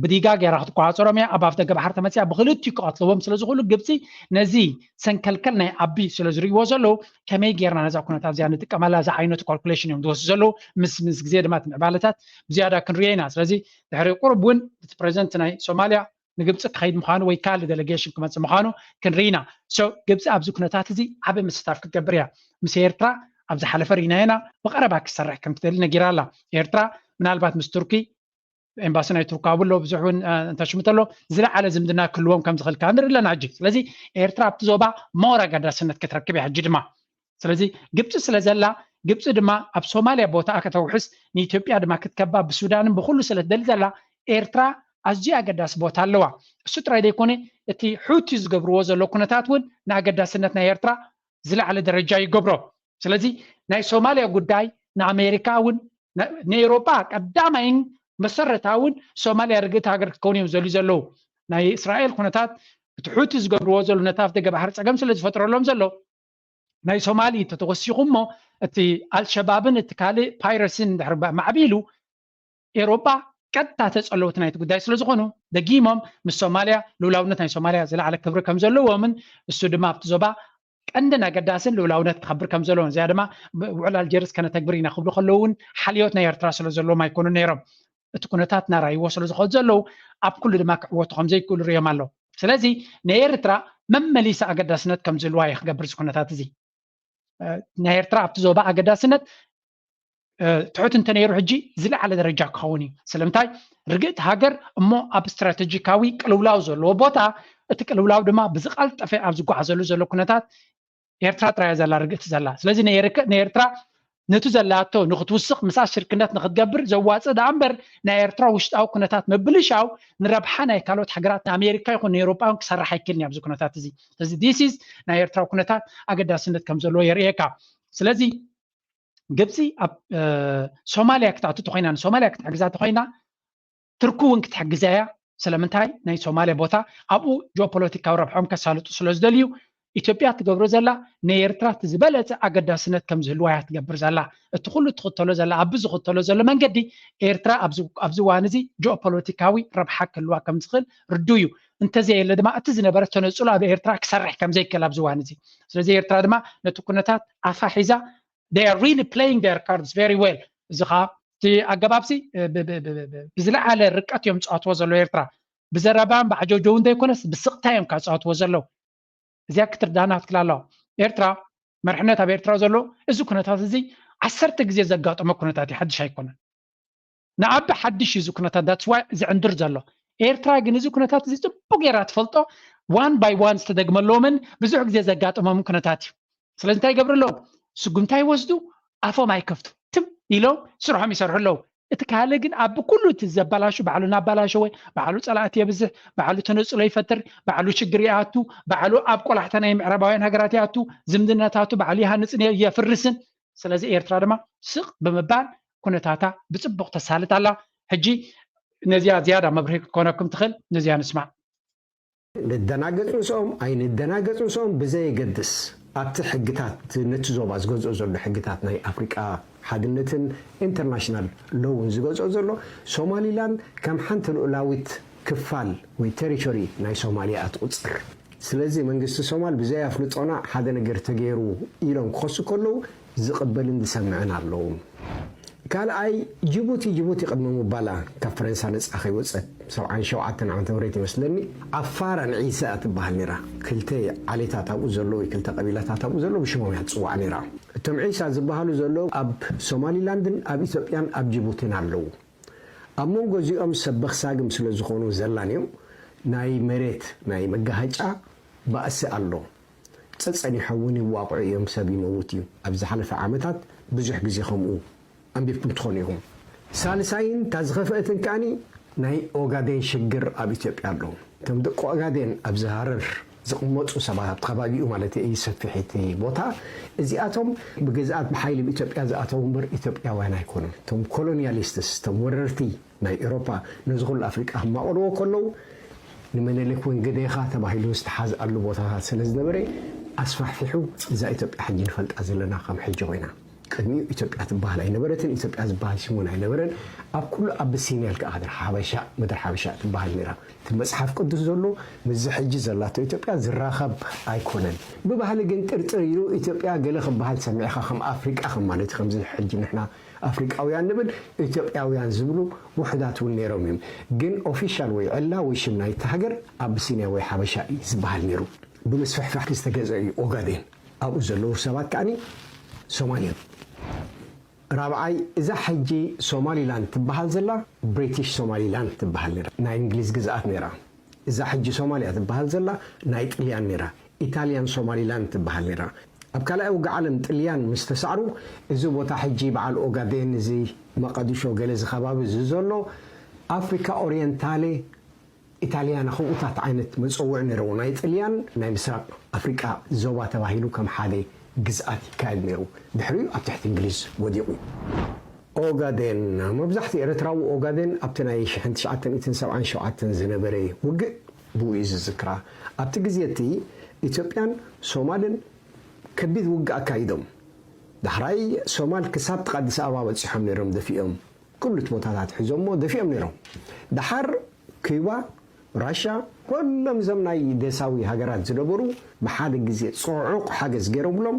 ብዲጋ ገይራ ክትቆፃፀሮም እያ ኣብ ኣፍደገ ባሕሪ ተመፅያ ብክልቲኡ ክቐትልዎም ስለ ዝኽእሉ ግብፂ ነዚ ሰንከልከል ናይ ኣቢ ስለ ዝርእይዎ ዘለዉ ከመይ ጌርና ነዛ ኩነታት እዚኣ ንጥቀመላ ዝዓይነቱ ካልኩሌሽን እዮም ዝወስዱ ዘለዉ ምስ ምስ ግዜ ድማ እቲ ምዕባለታት ብዝያዳ ክንሪኦ ኢና ስለዚ ድሕሪ ቁርብ እውን እቲ ፕሬዚደንት ናይ ሶማልያ ንግብፂ ክኸይድ ምዃኑ ወይ ካልእ ደለጌሽን ክመፅእ ምዃኑ ክንርኢ ኢና ሶ ግብፂ ኣብዚ ኩነታት እዚ ዓበ ምስታፍ ክትገብር እያ ምስ ኤርትራ ኣብ ዝሓለፈ ርኢናዮ ኢና ብቐረባ ክትሰርሕ ከም ትደሊ ነጊራ ኣላ ኤርትራ ምናልባት ምስ ቱርኪ ኤምባሲ ናይ ቱርክ ኣብኡ ኣሎ ብዙሕ እውን እንተሽሙ ተሎ ዝለዓለ ዝምድና ክህልዎም ከም ዝኽእል ከዓ ንርኢ ኣለና ሕጂ ስለዚ ኤርትራ ኣብቲ ዞባ ሞር ኣገዳስነት ክትረክብ እያ ሕጂ ድማ ስለዚ ግብፂ ስለ ዘላ ግብፂ ድማ ኣብ ሶማልያ ቦታኣ ከተውሕስ ንኢትዮጵያ ድማ ክትከባ ብሱዳንን ብኩሉ ስለ ትደሊ ዘላ ኤርትራ ኣዝዩ ኣገዳሲ ቦታ ኣለዋ እሱ ጥራይ ዘይኮነ እቲ ሑቲ ዝገብርዎ ዘሎ ኩነታት እውን ንኣገዳስነት ናይ ኤርትራ ዝለዓለ ደረጃ ይገብሮ ስለዚ ናይ ሶማልያ ጉዳይ ንኣሜሪካ እውን ንኤሮጳ ቀዳማይን መሰረታውን ሶማልያ ርግእቲ ሃገር ክትከውን እዮም ዘልዩ ዘለዉ ናይ እስራኤል ኩነታት እቲ ሑቲ ዝገብርዎ ዘሎ ነቲ ኣፍ ደገ ባሕሪ ፀገም ስለ ዝፈጥረሎም ዘሎ ናይ ሶማሊ እንተተወሲኹ እሞ እቲ ኣልሸባብን እቲ ካልእ ፓይረሲን እንድሕር ማዕቢሉ ኤሮጳ ቀጥታ ተጸለውቲ ናይቲ ጉዳይ ስለ ዝኾኑ ደጊሞም ምስ ሶማልያ ልኡላውነት ናይ ሶማልያ ዝለዓለ ክብሪ ከም ዘለዎምን እሱ ድማ ኣብቲ ዞባ ቀንድን ኣገዳስን ልኡላውነት ክኸብር ከም ዘለዎን እዚኣ ድማ ውዕል ኣልጀርስ ከነተግብር ኢና ክብሉ ከለዉ እውን ሓልዮት ናይ ኤርትራ ስለ ዘለዎም ኣይኮኑን ነይሮም እቲ ኩነታት ናራይዎ ስለ ዝኸዱ ዘለዉ ኣብ ኩሉ ድማ ክዕወቱ ከም ዘይክእሉ ርእዮም ኣለዉ። ስለዚ ንኤርትራ መመሊሳ ኣገዳስነት ከም ዝህልዋ እዩ ክገብር እዚ ኩነታት እዚ። ናይ ኤርትራ ኣብቲ ዞባ ኣገዳስነት ትሑት እንተነይሩ ሕጂ ዝለዓለ ደረጃ ክኸውን እዩ ስለምንታይ ርግእቲ ሃገር እሞ ኣብ ስትራተጂካዊ ቅልውላው ዘለዎ ቦታ እቲ ቅልውላው ድማ ብዝቐልጠፈ ኣብ ዝጓዓዘሉ ዘሎ ኩነታት ኤርትራ ጥራያ ዘላ ርግእቲ ዘላ ስለዚ ንኤርትራ ነቲ ዘላቶ ንክትውስኽ ምሳ ሽርክነት ንክትገብር ዘዋፅእ ደኣ እምበር ናይ ኤርትራ ውሽጣዊ ኩነታት ምብልሻው ንረብሓ ናይ ካልኦት ሃገራት ንኣሜሪካ ይኹን ንኤሮጳ እውን ክሰርሕ ኣይክእልን ኣብዚ ኩነታት እዚ ስለዚ ዲሲስ ናይ ኤርትራ ኩነታት ኣገዳስነት ከም ዘለዎ የርእየካ ስለዚ ግብፂ ኣብ ሶማልያ ክትኣቱ ተኮይና ንሶማልያ ክትሕግዛ ተኮይና ትርኪ እውን ክትሕግዛ እያ፣ ስለምንታይ ናይ ሶማልያ ቦታ ኣብኡ ጂኦፖለቲካዊ ረብሐኦም ከሳልጡ ስለዝደልዩ፣ ኢትዮጵያ እትገብሮ ዘላ ንኤርትራ እቲ ዝበለጸ ኣገዳስነት ከምዝህልዋ እያ ትገብር ዘላ፣ እቲ ኩሉ እትኽተሎ ዘላ ኣቢ ዝኽተሎ ዘሎ መንገዲ ኤርትራ ኣብዚ ኣብዚ እዋን እዚ ጂኦፖለቲካዊ ረብሓ ክህልዋ ከምዝኽእል ርዱእ እዩ፣ እንተዘየለ ድማ እቲ ዝነበረ ተነጽሎ ኣብ ኤርትራ ክሰርሕ ከምዘይክእል ኣብዚ እዋን እዚ ስለዚ ኤርትራ ድማ ነቲ ኩነታት ኣፋ ሒዛ they are really playing their cards very well እዚ ከዓ እቲ ኣገባብሲ ብዝለዓለ ርቀት እዮም ዝፃወትዎ ዘለዉ ኤርትራ ብዘረባን ብዓጀውጀውን ዘይኮነስ ብስቕታ እዮም ካብ ዝፃወትዎ ዘለዉ እዚኣ ክትርዳና ክትክል ኣለዋ ኤርትራ መርሕነት ኣብ ኤርትራ ዘሎ እዚ ኩነታት እዚ ዓሰርተ ግዜ ዘጋጠመ ኩነታት እዩ ሓድሽ ኣይኮነን ንኣቢ ሓድሽ እዩ እዚ ኩነታት ዳትስ ዋይ ዝዕንድር ዘሎ ኤርትራ ግን እዚ ኩነታት እዚ ጽቡቅ ጌራ ትፈልጦ ዋን ባይ ዋን ዝተደግመሎምን ብዙሕ ግዜ ዘጋጠሞም ኩነታት እዩ ስለዚ እንታይ ይገብሩ ኣለዉ ስጉምታ ይወስዱ ኣፎም ኣይከፍቱ ትም ኢሎም ስርሖም ይሰርሑ ኣለዉ እቲ ካልእ ግን ኣብ ኩሉ እቲ ዘበላሹ ባዕሉ እናበላሸወ ባዕሉ ፀላእቲ የብዝሕ ባዕሉ ተነፅሎ ይፈጥር ባዕሉ ሽግር ይኣቱ ባዕሉ ኣብ ቆላሕታ ናይ ምዕራባውያን ሃገራት ይኣቱ ዝምድናታቱ ባዕሉ ይሃንፅን የፍርስን ስለዚ ኤርትራ ድማ ስቕ ብምባል ኩነታታ ብጽቡቕ ተሳልጥ ኣላ። ሕጂ ነዚኣ ዝያዳ መብርሂ ክትኮነኩም ትኽእል ነዚኣ ንስማዕ። ንደናገጽ ምስኦም ኣይንደናገጽ ምስኦም ብዘየገድስ ኣብቲ ሕግታት ነቲ ዞባ ዝገዝኦ ዘሎ ሕግታት ናይ ኣፍሪቃ ሓድነትን ኢንተርናሽናል ሎውን ዝገዝኦ ዘሎ ሶማሊላን ከም ሓንቲ ልኡላዊት ክፋል ወይ ተሪቶሪ ናይ ሶማል ኢያ ትቁጽር። ስለዚ መንግስቲ ሶማል ብዘይ ኣፍልጦና ሓደ ነገር ተገይሩ ኢሎም ክኸሱ ከለዉ ዝቅበልን ዝሰምዕን ኣለዉም። ካልኣይ ጅቡቲ ጅቡቲ ቅድሚ ምባላ ካብ ፈረንሳ ነጻ ከይወጸት ሰብዓን ሸውዓተን ዓመተ ምህረት ይመስለኒ ኣፋር ኣንዒሰ ኢያ ትበሃል ነይራ። ክልተ ዓሌታት ኣብኡ ዘሎ ወይ ክልተ ቀቢላታት ኣብኡ ዘሎ ብሽሞም ኢያ ትጽዋዕ ነይራ። እቶም ዒሳ ዝበሃሉ ዘለዉ ኣብ ሶማሊላንድን ኣብ ኢትዮጵያን ኣብ ጅቡቲን ኣለዉ። ኣብ መንጎ እዚኦም ሰበኽ ሳግም ስለ ዝኾኑ ዘላንዮ ናይ መሬት ናይ መጋሃጫ ባእሲ ኣሎ። ጸጸኒሖም እውን ይዋቕዑ እዮም ሰብ ይመውት እዩ። ኣብ ዝሓለፈ ዓመታት ብዙሕ ግዜ ከምኡ ኣንቢብኩም ትኾኑ ኢኹም። ሳልሳይን እታ ዝኸፍኣትን ከኣ ናይ ኦጋዴን ሽግር ኣብ ኢትዮጵያ ኣሎ። እቶም ደቂ ኦጋዴን ኣብዚ ሃረር ዝቕመጡ ሰባት ኣብቲ ከባቢኡ ማለተይ እይ ሰፊሕ እቲ ቦታ እዚኣቶም ብግዝኣት ብሓይሊ ብ ኢትዮጵያ ዝኣተዉ እምበር ኢትዮጵያውያን ኣይኮኑን እቶም ኮሎንያሊስትስ እቶም ወረርቲ ናይ ኤሮፓ ነዚ ኩሉ ኣፍሪቃ ክማቐልዎ ከለዉ ንመነሊክ ውን ግደኻ ተባሂሉ ዝተሓዝኣሉ ቦታታት ስለ ዝነበረ ኣስፋሕፊሑ እዛ ኢትዮጵያ ሕጂ ንፈልጣ ዘለና ከም ሕጂ ኮይና ቅድሚኡ ኢትዮጵያ ትበሃል ኣይነበረትን፣ ኢትዮጵያ ዝበሃል ሽምውን ኣይነበረን፣ ኣብ ኩሉ ኣቢሲንያ ኢልካ ኢኻ ሓበሻ፣ ምድሪ ሓበሻ ትበሃል ነይራ። እቲ መጽሓፍ ቅዱስ ዘሎ ምስዚ ሕጂ ዘላቶ ኢትዮጵያ ዝራኸብ ኣይኮነን። ብባህሊ ግን ጥርጥር ኢዩ፣ ኢትዮጵያ ገለ ክበሃል ሰሚዕካ ከም ኣፍሪቃ ከም ማለት ኢዩ፣ ከምዚ ሕጂ ንሕና ኣፍሪቃውያን ንብል ኢትዮጵያውያን ዝብሉ ውሑዳት እውን ነይሮም ኢዮም፣ ግን ኦፊሻል ወይ ዕላ ወይ ሽም ናይቲ ሃገር ኣቢሲንያ ወይ ሓበሻ ኢዩ ዝበሃል ነይሩ። ብምስፍሕፋሕ ዝተገዝአ ኢዩ ኦጋዴን። ኣብኡ ዘለዉ ሰባት ከኣ ሶማል እዮም። ራብዓይ እዛ ሕጂ ሶማሊላንድ ትበሃል ዘላ ብሪቲሽ ሶማሊላንድ ትበሃል ነይራ ናይ እንግሊዝ ግዝኣት ነይራ። እዛ ሕጂ ሶማልያ ትበሃል ዘላ ናይ ጥልያን ነይራ ኢታልያን ሶማሊላንድ ትበሃል ነይራ። ኣብ ካልኣይ ውግእ ዓለም ጥልያን ምስ ተሳዕሩ እዚ ቦታ ሕጂ በዓል ኦጋዴን እዚ መቐድሾ ገለ እዚ ከባቢ እዚ ዘሎ ኣፍሪካ ኦርየንታሌ ኢታልያና ከምኡታት ዓይነት መጸውዒ ነይረዎ። ናይ ጥልያን ናይ ምስራቕ ኣፍሪቃ ዞባ ተባሂሉ ከም ሓደ ግዝኣት ይካየድ ነይሩ። ድሕሪኡ ኣብ ትሕቲ እንግሊዝ ወዲቑ። ኦጋዴን፣ መብዛሕትኡ ኤርትራዊ ኦጋዴን ኣብቲ ናይ ሽሕን ትሽዓተ ሚእትን ሰብዓን ሸውዓተን ዝነበረ ውግእ ብኡ እዩ ዝዝክራ። ኣብቲ ግዜ እቲ ኢትዮጵያን ሶማልን ከቢድ ውግእ ኣካይዶም። ዳሕራይ ሶማል ክሳብ ጥቓ ኣዲስ ኣበባ በጺሖም ነይሮም ደፊኦም። ክሉት ቦታታት ሒዞሞ ደፊኦም ነይሮም። ደሓር ኩባ፣ ራሻ፣ ኩሎም እዞም ናይ ደሳዊ ሃገራት ዝነበሩ ብሓደ ግዜ ጽዑቕ ሓገዝ ገይሮምሎም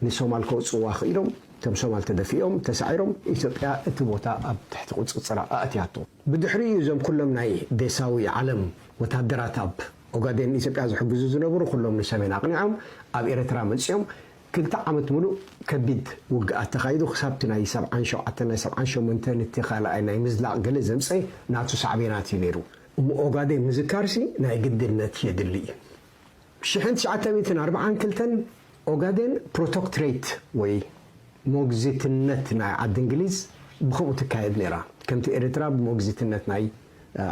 ንሶማል ከውጽእዋ ክኢሎም። እቶም ሶማል ተደፊኦም ተሳዒሮም። ኢትዮጵያ እቲ ቦታ ኣብ ትሕቲ ቁጽጽራ ኣእትያቶ። ብድሕሪኡ እዩ እዞም ኩሎም ናይ ደሳዊ ዓለም ወተሃደራት ኣብ ኦጋዴን ንኢትዮጵያ ዝሕግዙ ዝነበሩ ኩሎም ንሰሜን ኣቕኒዖም ኣብ ኤረትራ መጺኦም ክልተ ዓመት ምሉእ ከቢድ ውግኣት ተኻይዱ ክሳብ እቲ ናይ ሰብዓን ሸውዓተን ናይ ሰብዓን ሸሞንተን እቲ ካልኣይ ናይ ምዝላቕ ገለ ዘምጸኤ ናቱ ሳዕቤናት እዩ ነይሩ። እሞ ኦጋዴን ምዝካርሲ ናይ ግድነት የድሊ እዩ። ሽሕን ትሽዓተ ሚእትን ኣርብዓን ክልተን ኦጋዴን ፕሮቶክትሬት ወይ ሞግዚትነት ናይ ዓዲ እንግሊዝ ብኸምኡ ትካየድ ነይራ ከምቲ ኤርትራ ብሞግዚትነት ናይ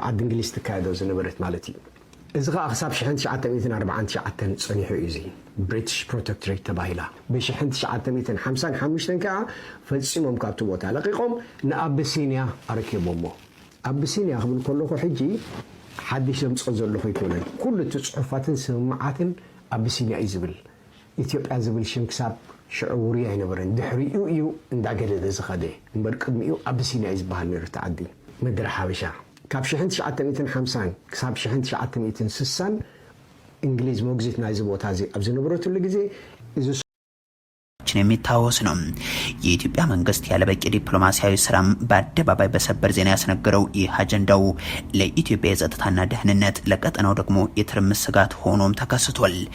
ዓዲ እንግሊዝ ትካየዶ ዝነበረት ማለት እዩ። እዚ ኸኣ ክሳብ ሽሕን ትሽዓተ ሚእትን ኣርብዓን ትሽዓተን ጸኒሑ እዩ። እዚ ብሪትሽ ፕሮተክትሬት ተባሂላ። ብሽሕን ትሽዓተ ሚእትን ሓምሳን ሓሙሽተን ከኣ ፈጺሞም ካብቲ ቦታ ለቒቖም ንኣቢሲንያ ኣረኪቦሞ። ኣቢሲንያ ክብል ከለኹ ሕጂ ሓድሽ ዘምጽኦ ዘለኹ ኣይኮነን። ኩሉ እቲ ጽሑፋትን ስምምዓትን ኣቢሲንያ እዩ ዝብል። ኢትዮጵያ ዝብል ሽም ክሳብ ሽዑ ውሩይ ኣይነበረን። ድሕሪኡ እዩ እንዳገደደ ዝኸደ። እምበር ቅድሚኡ ኣቢሲንያ እዩ ዝበሃል ነይሩ እቲ ዓዲ። ምድረ ሓበሻ ካብ ሽሕን ትሽዓተ ሚእትን ሓምሳን ክሳብ ሽሕን ትሽዓተ ሚእትን ስሳን እንግሊዝ ሞግዚት ናይዚ ቦታ እዚ ኣብ ዝነበረትሉ ግዜ እዚ። ችን የሚታወስ ነው። የኢትዮጵያ መንግስት ያለበቂ ዲፕሎማሲያዊ ስራ በአደባባይ በሰበር ዜና ያስነገረው ይህ አጀንዳው ለኢትዮጵያ የጸጥታና ደህንነት ለቀጠናው ደግሞ የትርምስ ስጋት ሆኖም ተከስቷል።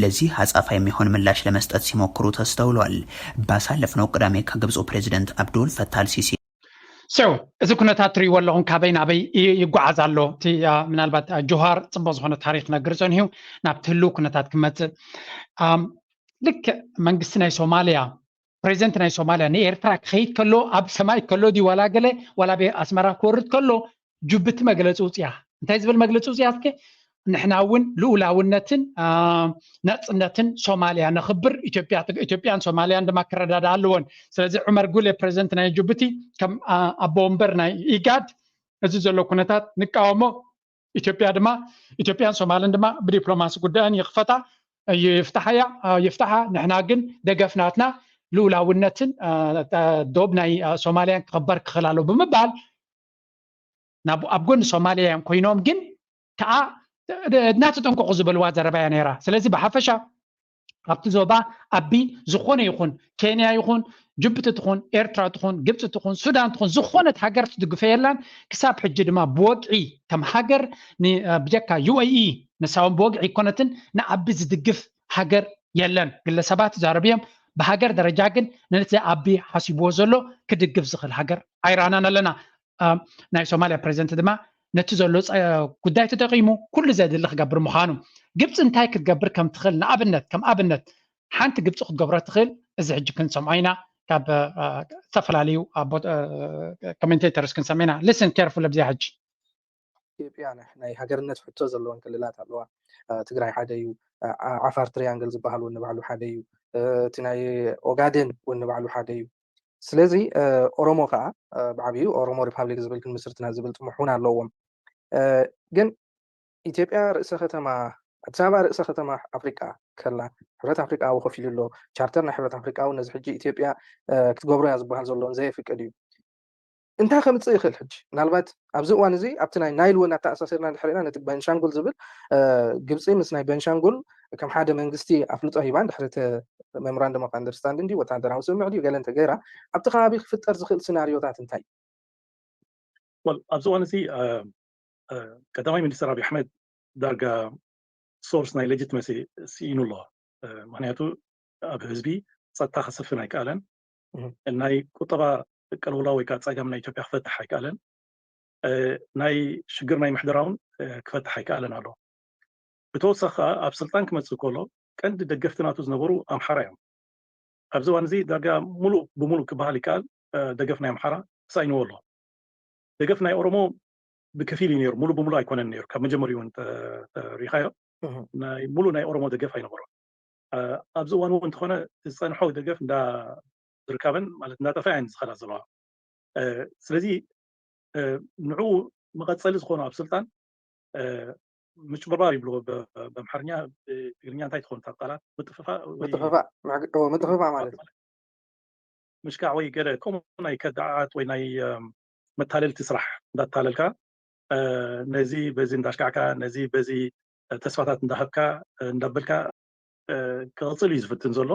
ለዚህ አጻፋ የሚሆን ምላሽ ለመስጠት ሲሞክሩ ተስተውሏል። ባሳለፍነው ቅዳሜ ከግብጹ ፕሬዝደንት አብዱል ፈታህ አልሲሲ፣ ሴው እዚ ኩነታት ትሪእዎ ኣለኹም ካበይ ናበይ ይጓዓዝ ኣሎ እቲ ምናልባት ጆሃር ፅቡቅ ዝኾነ ታሪክ ነግር ፀኒሑ ናብቲ ህልው ኩነታት ክመፅእ ልክዕ መንግስቲ ናይ ሶማሊያ ፕሬዚደንት ናይ ሶማልያ ንኤርትራ ክኸይድ ከሎ ኣብ ሰማይ ከሎ ድዩ ዋላ ገለ ዋላ ቤ ኣስመራ ክወርድ ከሎ ጁብቲ መግለፂ ውፅያ እንታይ ዝብል መግለፂ ውፅያ እስከ ንሕና እውን ልኡላውነትን ነፅነትን ሶማልያ ነኽብር ኢትዮጵያን ሶማልያን ድማ ክረዳዳ ኣለዎን ስለዚ ዑመር ጉሌ ፕሬዚደንት ናይ ጁቡቲ ከም ኣቦ ወንበር ናይ ኢጋድ እዚ ዘሎ ኩነታት ንቃወሞ ኢትዮጵያ ድማ ኢትዮጵያን ሶማልን ድማ ብዲፕሎማሲ ጉዳየን ይኽፈታ ይፍታሓያ ይፍታሓ ንሕና ግን ደገፍናትና ልኡላውነትን ዶብ ናይ ሶማልያን ክኽበር ክኽእል ኣሎ ብምባል ናብ ኣብ ጎኒ ሶማልያ እዮም ኮይኖም ግን ከዓ እናተጠንቀቑ ዝበልዋ ዘረባ እያ ነይራ ስለዚ ብሓፈሻ ኣብቲ ዞባ ኣቢ ዝኾነ ይኹን ኬንያ ይኹን ጅቡቲ ትኹን ኤርትራ ትኹን ግብፂ ትኹን ሱዳን ትኹን ዝኾነት ሃገር ትድግፈ የላን ክሳብ ሕጂ ድማ ብወግዒ ከም ሃገር ብጀካ ዩኤኢ ንሳውን ብወግዒ ኮነትን ንኣቢ ዝድግፍ ሃገር የለን ግለሰባት ዛረብ እዮም ብሃገር ደረጃ ግን ነቲ ኣቢ ሓሲብዎ ዘሎ ክድግፍ ዝኽእል ሃገር ኣይረኣናን ኣለና ናይ ሶማልያ ፕረዚደንት ድማ ነቲ ዘሎ ጉዳይ ተጠቂሙ ኩሉ ዘድሊ ክገብር ምዃኑ ግብፂ እንታይ ክትገብር ከም ትኽእል ንኣብነት ከም ኣብነት ሓንቲ ግብፂ ክትገብሮ ትኽእል እዚ ሕጂ ክንሰምዖ ኢና ካብ ዝተፈላለዩ ኮሜንቴተርስ ክንሰምዕ ኢና ልስን ኬርፉል ኣብዚኣ ሕጂ ኢትዮጵያ ናይ ሃገርነት ሕቶ ዘለወን ክልላት ኣለዋ ትግራይ ሓደ እዩ ዓፋር ትሪያንግል ዝበሃል እውን ንባዕሉ ሓደ እዩ እቲ ናይ ኦጋዴን እውን ንባዕሉ ሓደ እዩ ስለዚ ኦሮሞ ከዓ ብዓብዩ ኦሮሞ ሪፓብሊክ ዝብል ክንምስርትና ዝብል ጥሙሕ እውን ኣለዎም ግን ኢትዮጵያ ርእሰ ከተማ ኣዲስ ኣበባ ርእሰ ከተማ ኣፍሪቃ ከላ ሕብረት ኣፍሪቃ ኣብኡ ኮፍ ኢሉ ኣሎ ቻርተር ናይ ሕብረት ኣፍሪቃ እውን ነዚ ሕጂ ኢትዮጵያ ክትገብሮ እያ ዝበሃል ዘሎን ዘየፍቅድ እዩ እንታይ ከምጽእ ይኽእል ሕጂ? ምናልባት ኣብዚ እዋን እዚ ኣብቲ ናይ ናይል እውን ኣተኣሳሲርና እንድሕር ርኢና ነቲ በንሻንጉል ዝብል ግብጺ ምስ ናይ በንሻንጉል ከም ሓደ መንግስቲ ኣፍልጦ ሂባ እንድሕር እቲ መምራንደም ኦፍ ኣንደርስታንዲንግ ድዩ ወተሃደራዊ ስምምዕ ድዩ ገለ እንተገይራ ኣብቲ ከባቢ ክፍጠር ዝኽእል ስናርዮታት እንታይ እዩ? Well ኣብዚ እዋን እዚ ቀዳማይ ሚኒስተር ኣብይ ኣሕመድ ዳርጋ ሶርስ ናይ ሌጂትመሲ ስኢኑ ኣሎ። ምክንያቱ ኣብ ህዝቢ ጸጥታ ከሰፍን ኣይከኣለን። ናይ ቁጠባ ቅልውላው ወይ ከዓ ፀገም ናይ ኢትዮጵያ ክፈትሕ ኣይከኣለን። ናይ ሽግር ናይ ምሕደራ እውን ክፈትሕ ኣይከኣለን ኣሎ። ብተወሳኺ ከዓ ኣብ ስልጣን ክመፅእ ከሎ ቀንዲ ደገፍቲ ናቱ ዝነበሩ ኣምሓራ እዮም። ኣብዚ እዋን እዚ ዳርጋ ሙሉእ ብሙሉእ ክበሃል ይከኣል ደገፍ ናይ ኣምሓራ ተሳኢንዎ ኣሎ። ደገፍ ናይ ኦሮሞ ብከፊል እዩ ነይሩ፣ ሙሉእ ብሙሉእ ኣይኮነን ነይሩ። ካብ መጀመሪኡ እውን እንተሪእኻዮ ናይ ሙሉእ ናይ ኦሮሞ ደገፍ ኣይነበሮን። ኣብዚ እዋን እውን እንተኾነ ዝፀንሖ ደገፍ እንዳርካበን ማለት እንዳጠፍኣ እየን ዝኸዳ ዘለዋ ስለዚ ንዑ መቐፀሊ ዝኾኑ ኣብ ስልጣን ምጭብርባር ይብልዎ በምሓርኛ ትግርኛ እንታይ ትኾን እታ ቃላት ምጥፍፋእ ምጥፍፋእ ማለት ምሽካዕ ወይ ገለ ከምኡ ናይ ከዳዓት ወይ ናይ መታለልቲ ስራሕ እንዳታለልካ ነዚ በዚ እንዳሽካዕካ ነዚ በዚ ተስፋታት እንዳሃብካ እንዳበልካ ክቕፅል እዩ ዝፍትን ዘሎ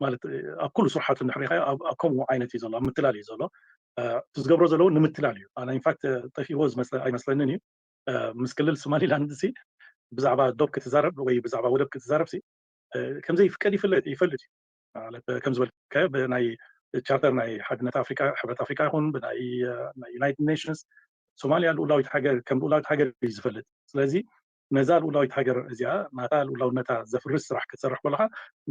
ማለት ኣብ ኩሉ ስርሓቱ እንድሕሪኻዮ ኣብ ከምኡ ዓይነት እዩ ዘሎ ኣብ ምትላል እዩ ዘሎ እቲ ዝገብሮ ዘለዎ ንምትላል እዩ ኣነ ኢንፋክት ጠፊዎ ኣይመስለንን እዩ ምስ ክልል ሶማሊላንድ ሲ ብዛዕባ ዶብ ክትዛረብ ወይ ብዛዕባ ወደብ ክትዛረብ ሲ ከምዘይፍቀድ ይፈልጥ እዩ ማለት ከም ዝበልካዮ ብናይ ቻርተር ናይ ሓድነት ኣፍሪቃ ሕብረት ኣፍሪቃ ይኹን ብናይ ናይ ዩናይትድ ኔሽንስ ሶማልያ ልኡላዊት ሃገር ከም ልኡላዊት ሃገር እዩ ዝፈልጥ ስለዚ ነዛ ልኡላዊት ሃገር እዚኣ ናታ ልኡላውነታ ዘፍርስ ስራሕ ክትሰርሕ ከለካ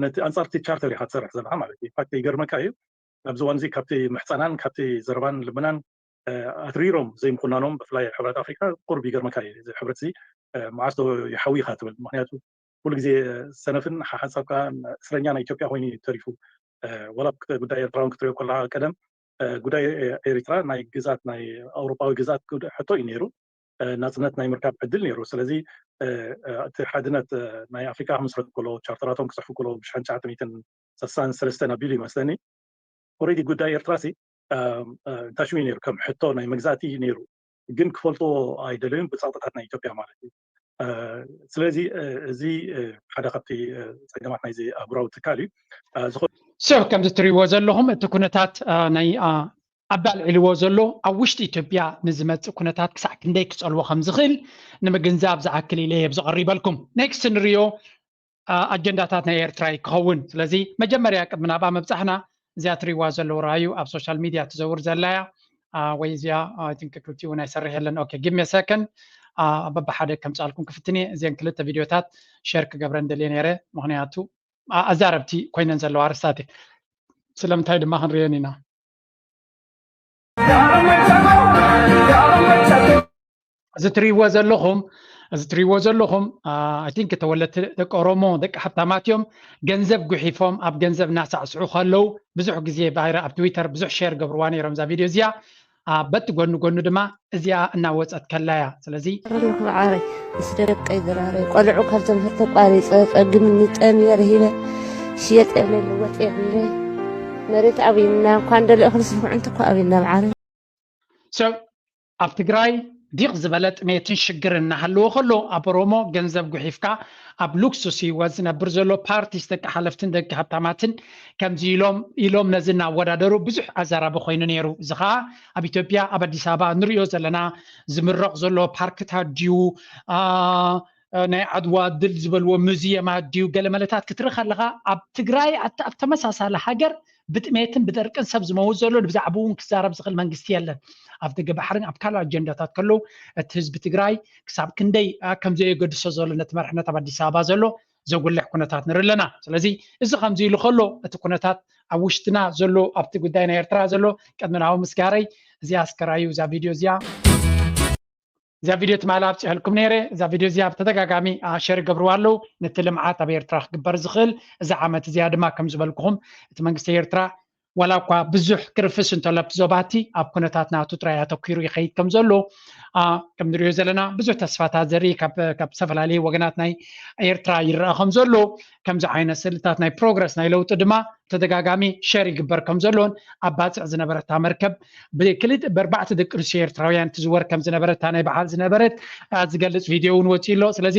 ነቲ ኣንጻር እቲ ቻርተር ኢካ ትሰርሕ ዘለካ ማለት እዩ ፋክት ይገርመካ እዩ ኣብዚ እዋን እዚ ካብቲ ምሕፀናን ካብቲ ዘረባን ልመናን ኣትሪሮም ዘይምኩናኖም ብፍላይ ሕብረት ኣፍሪካ ቁርብ ይገርመካ እዩ እዚ ሕብረት እዚ መዓስ ዶ ይሓዊ ኢካ ትብል ምክንያቱ ኩሉ ግዜ ሰነፍን ሓሓጻብካን እስረኛ ናይ ኢትዮጵያ ኮይኑ እዩ ተሪፉ ዋላ ጉዳይ ኤርትራ ውን ክትሪኦ ኮለካ ቀደም ጉዳይ ኤሪትራ ናይ ግዛት ናይ ኣውሮጳዊ ግዛት ጉዳይ ሕቶ እዩ ነይሩ ናጽነት ናይ ምርካብ ዕድል ነይሩ ስለዚ እቲ ሓድነት ናይ ኣፍሪካ ክምስረት ኮሎ ቻርተራቶም ክጽሕፉ ኮሎ ብ ሽሓን ትሽዓተ ሚእትን ሰሳን ሰለስተን ኣቢሉ ይመስለኒ ኦሬዲ ጉዳይ ኤርትራ ሲ እንታይ ሽሙ እዩ ነይሩ ከም ሕቶ ናይ መግዛእቲ እዩ ነይሩ ግን ክፈልጥዎ ኣይደለዩን ብጸቕጥታት ናይ ኢትዮጵያ ማለት እዩ ስለዚ እዚ ሓደ ካብቲ ፀገማት ናይዚ ኣህጉራዊ ትካል እዩ ሶ ከምዚ እትሪእዎ ዘለኹም እቲ ኩነታት ናይ ኣቢ ኣልዒልዎ ዘሎ ኣብ ውሽጢ ኢትዮጵያ ንዝመፅእ ኩነታት ክሳዕ ክንደይ ክፀልዎ ከም ዝኽእል ንምግንዛብ ዝኣክል ኢለ እየ ዝቐሪበልኩም ኔክስት ንሪኦ ኣጀንዳታት ናይ ኤርትራ እዩ ክኸውን ስለዚ መጀመርያ ቅድሚ ናብኣ ምብፃሕና እዚኣ ትሪእዋ ዘለዉ ረኣዩ ኣብ ሶሻል ሚድያ ትዘውር ዘላያ ወይ እዚኣ ኣይንክ ክልቲ እውን ኣይሰርሕ የለን ኦኬ ጊቭ ሚ ሰከንድ በብሓደ ከምፃልኩም ክፍትን እየ እዚን ክልተ ቪድዮታት ሸር ክገብረን ደልየ ነይረ ምክንያቱ ኣዛረብቲ ኮይነን ዘለዋ ኣርስታት እየ ስለምንታይ ድማ ክንሪኤን ኢና እዚ ትሪእዎ ዘለኹም እዚ ትሪእዎ ዘለኹም ኣይንክ ተወለድቲ ደቂ ኦሮሞ ደቂ ሃብታማት እዮም ገንዘብ ጉሒፎም ኣብ ገንዘብ እናሳዕስዑ ከለው ብዙሕ ግዜ ባይረ ኣብ ትዊተር ብዙሕ ሸር ገብርዋ ነይሮም እዛ ቪድዮ እዚኣ በቲ ጎኒ ጎኒ ድማ እዚኣ እናወፀት ከላያ ስለዚ ረለኹ ዓረይ ምስ ደቀይ ድራረይ ቆልዑ ካብ ትምህርቲ ተቋሪፀ ፀግምኒ ጠምየ ረሂበ ሽየጥ የብለይ ልወጥ የብለይ መሬት ኣብና እኳ እንደለ እኽሊ ስልኩዕንቲ እኳ ኣብና ብዓረ ኣብ ትግራይ ዲቕ ዝበለ ጥሜትን ሽግር እናሃለዎ ከሎ ኣብ ኦሮሞ ገንዘብ ጉሒፍካ ኣብ ሉክሱስ ህይወት ዝነብር ዘሎ ፓርቲስ ደቂ ሓለፍትን ደቂ ሃብታማትን ከምዚ ኢሎም ኢሎም ነዚ እናወዳደሩ ብዙሕ ኣዘራቢ ኮይኑ ነይሩ እዚ ከዓ ኣብ ኢትዮጵያ ኣብ ኣዲስ ኣበባ እንሪኦ ዘለና ዝምረቕ ዘሎ ፓርክታት ድዩ ናይ ዓድዋ ድል ዝበልዎ ሙዚየማት ድዩ ገለመለታት ክትርኢ ከለካ ኣብ ትግራይ ኣብ ተመሳሳሊ ሃገር ብጥሜትን ብደርቅን ሰብ ዝመውት ዘሎ ብዛዕባ እውን ክዛረብ ዝኽእል መንግስቲ የለን ኣብ ደገ ባሕርን ኣብ ካልእ ኣጀንዳታት ከለዉ እቲ ህዝቢ ትግራይ ክሳብ ክንደይ ከም ዘየገድሶ ዘሎ ነቲ መርሕነት ኣብ ኣዲስ ኣበባ ዘሎ ዘጉልሕ ኩነታት ንርኢ ኣለና። ስለዚ እዚ ከምዚ ኢሉ ከሎ እቲ ኩነታት ኣብ ውሽጥና ዘሎ ኣብቲ ጉዳይ ናይ ኤርትራ ዘሎ ቅድሚ ናብኡ ምስጋረይ እዚኣ ስከራዩ እዛ ቪድዮ እዚኣ እዛ ቪድዮ ትማሊ ኣብፅሐልኩም ነይረ እዛ ቪድዮ እዚኣ ብተደጋጋሚ ሸር ይገብርዋ ኣለዉ ነቲ ልምዓት ኣብ ኤርትራ ክግበር ዝኽእል እዚ ዓመት እዚኣ ድማ ከም ዝበልኩኹም እቲ መንግስቲ ኤርትራ ዋላ እኳ ብዙሕ ክርፍስ እንተሎ ኣብቲ ዞባ እቲ ኣብ ኩነታት ናቱ ጥራይ ኣተኲሩ ይኸይድ ከም ዘሎ ከም ንሪኦ ዘለና ብዙሕ ተስፋታት ዘርኢ ካብ ዝተፈላለዩ ወገናት ናይ ኤርትራ ይረኣ ከም ዘሎ ከምዚ ዓይነት ስእልታት ናይ ፕሮግረስ ናይ ለውጢ ድማ ተደጋጋሚ ሸር ይግበር ከም ዘሎን ኣብ ባፅዕ ዝነበረታ መርከብ ብክልት በርባዕተ ደቂ ኣንስትዮ ኤርትራውያን ትዝወር ከም ዝነበረታ ናይ በዓል ዝነበረት ዝገልፅ ቪድዮ እውን ወፂኡ ኣሎ ስለዚ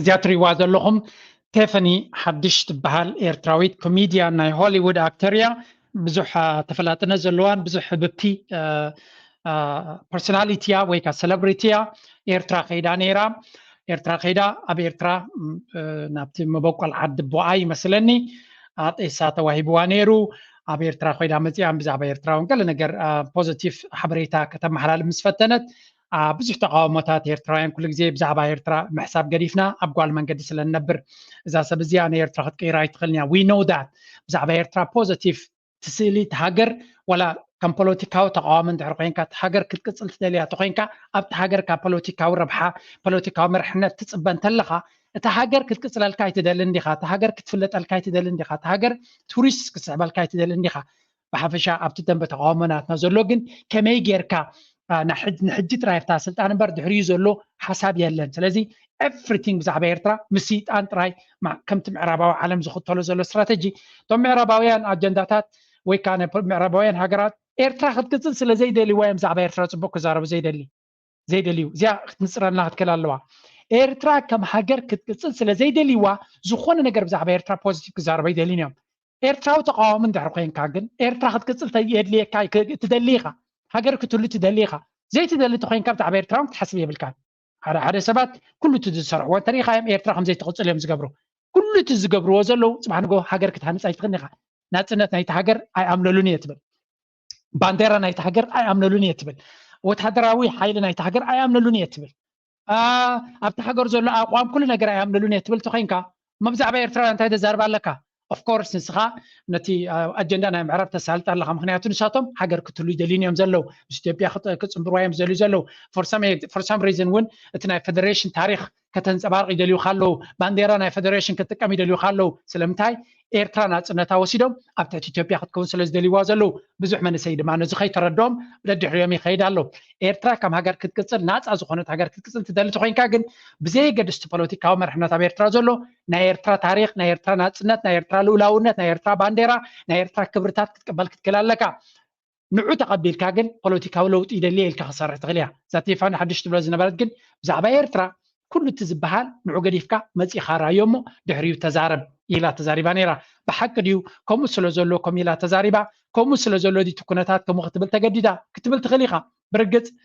እዚኣ ትሪእዋ ዘለኹም ቴፈኒ ሓድሽ ትበሃል ኤርትራዊት ኮሜድያን ናይ ሆሊውድ ኣክተር እያ ብዙሕ ተፈላጥነት ዘለዋን ብዙሕ ህብብቲ ፐርሶናሊቲ እያ ወይ ከዓ ሰለብሪቲ እያ ኤርትራ ከይዳ ነይራ ኤርትራ ከይዳ ኣብ ኤርትራ ናብቲ መበቆል ዓዲ ቦኣ ይመስለኒ ኣጤሳ ተዋሂብዋ ነይሩ ኣብ ኤርትራ ኮይዳ መፅኣን ብዛዕባ ኤርትራውን ገለ ነገር ፖዘቲቭ ሓበሬታ ከተመሓላልፍ ምስ ፈተነት ኣብ ብዙሕ ተቃውሞታት ኤርትራውያን ኩሉ ግዜ ብዛዕባ ኤርትራ ምሕሳብ ገዲፍና ኣብ ጓል መንገዲ ስለ ንነብር እዛ ሰብ እዚኣ ንኤርትራ ክትቅይራ ኣይትኽእልን እያ ዊ ኖው ዳት ብዛዕባ ኤርትራ ፖዘቲቭ ትስእሊ እቲ ሃገር ዋላ ከም ፖለቲካዊ ተቃዋሚ እንድሕር ኮንካ እቲ ሃገር ክትቅፅል ትደልያ ተኮንካ ኣብቲ ሃገር ካብ ፖለቲካዊ ረብሓ ፖለቲካዊ መርሕነት ትፅበ እንተለካ እቲ ሃገር ክትቅፅለልካ ኣይትደልን ዲካ እቲ ሃገር ክትፍለጠልካ ኣይትደልን ዲካ እቲ ሃገር ቱሪስት ክትስሕበልካ ኣይትደልን ዲካ ብሓፈሻ ኣብቲ ደንበ ተቃውሞ ናትና ዘሎ ግን ከመይ ጌርካ ንሕጂ ጥራይ ኣብታ ስልጣን እምበር ድሕሪኡ ዘሎ ሓሳብ የለን ስለዚ ኤፍሪቲንግ ብዛዕባ ኤርትራ ምስ ስይጣን ጥራይ ከምቲ ምዕራባዊ ዓለም ዝኽተሎ ዘሎ ስትራተጂ እቶም ምዕራባውያን ኣጀንዳታት ወይ ከዓ ምዕራባውያን ሃገራት ኤርትራ ክትቅፅል ስለ ዘይደልይዋ እዮም ብዛዕባ ኤርትራ ፅቡቅ ክዛረቡ ዘይደሊ ዘይደልዩ እዚኣ ክትንፅረልና ክትከል ኣለዋ ኤርትራ ከም ሃገር ክትቅፅል ስለ ዘይደልይዋ ዝኾነ ነገር ብዛዕባ ኤርትራ ፖዚቲቭ ክዛረበ ይደልዩን እዮም ኤርትራዊ ተቃዋሚ እንድሕር ኮንካ ግን ኤርትራ ክትቅፅል የድልየካ ትደሊ ኢኻ ሃገር ክትህሉ ትደሊ ኢኻ ዘይትደሊ ተኮይንካ ብዛዕባ ኤርትራ እውን ክትሓስብ የብልካን ሓደ ሓደ ሰባት ኩሉ እቲ ዝሰርሕዎ እንተሪኢካ እዮም ኤርትራ ከምዘይትቕፅል እዮም ዝገብሩ ኩሉ እቲ ዝገብርዎ ዘለዉ ፅባሕ ንጎ ሃገር ክትሃንፅ ኣይትኽእልን ኢኻ ናፅነት ናይቲ ሃገር ኣይኣምለሉን እየ ትብል ባንዴራ ናይቲ ሃገር ኣይኣምነሉን እየ ትብል ወተሃደራዊ ሓይሊ ናይቲ ሃገር ኣይኣምነሉን እየ ትብል ኣብቲ ሃገር ዘሎ ኣቋም ኩሉ ነገር ኣይኣምነሉን እየ ትብል ተኮይንካ መብዛዕባ ኤርትራውያን እንታይ ተዛርባ ኣለካ ኦፍኮርስ ንስኻ ነቲ ኣጀንዳ ናይ ምዕራብ ተሳልጥ ኣለካ ምክንያቱ ንሳቶም ሃገር ክትሉ ይደልዩን እዮም ዘለው ምስ ኢትዮጵያ ክፅምብርዋ እዮም ዝደልዩ ዘለው ፎርሳም ሪዝን እውን እቲ ናይ ፌደሬሽን ታሪክ ከተንጸባርቕ ይደልዩ ካለው ባንዴራ ናይ ፈደሬሽን ክትጥቀም ይደልዩ ካለው ስለምንታይ ኤርትራ ናጽነታ ወሲዶም ኣብ ትሕቲ ኢትዮጵያ ክትከውን ስለ ዝደልይዋ ዘለው ብዙሕ መንእሰይ ድማ ነዚ ከይተረድኦም ደድሕሪኦም ይኸይድ ኣሎ ኤርትራ ከም ሃገር ክትቅጽል ናጻ ዝኾነት ሃገር ክትቅጽል ትደሊ ተኮይንካ ግን ብዘየገድስ እቲ ፖለቲካዊ መርሕነት ኣብ ኤርትራ ዘሎ ናይ ኤርትራ ታሪክ ናይ ኤርትራ ናጽነት ናይ ኤርትራ ልኡላውነት ናይ ኤርትራ ባንዴራ ናይ ኤርትራ ክብርታት ክትቅበል ክትክእል ኣለካ ንዑ ተቀቢልካ ግን ፖለቲካዊ ለውጢ ይደሊ እየ ኢልካ ክትሰርሕ ትክእል እያ እዛ ቴፋኒ ሓድሽ ትብሎ ዝነበረት ግን ብዛዕባ ኤርትራ ኩሉ እቲ ዝበሃል ንዑ ገዲፍካ መጺካ ራዮ እሞ ድሕሪኡ ተዛረብ ኢላ ተዛሪባ ነይራ ብሓቂ ድዩ ከምኡ ስለ ዘሎ ከም ኢላ ተዛሪባ ከምኡ ስለ ዘሎ እቲ ኩነታት ከምኡ ክትብል ተገዲዳ ክትብል ትክእል ኢካ ብርግጽ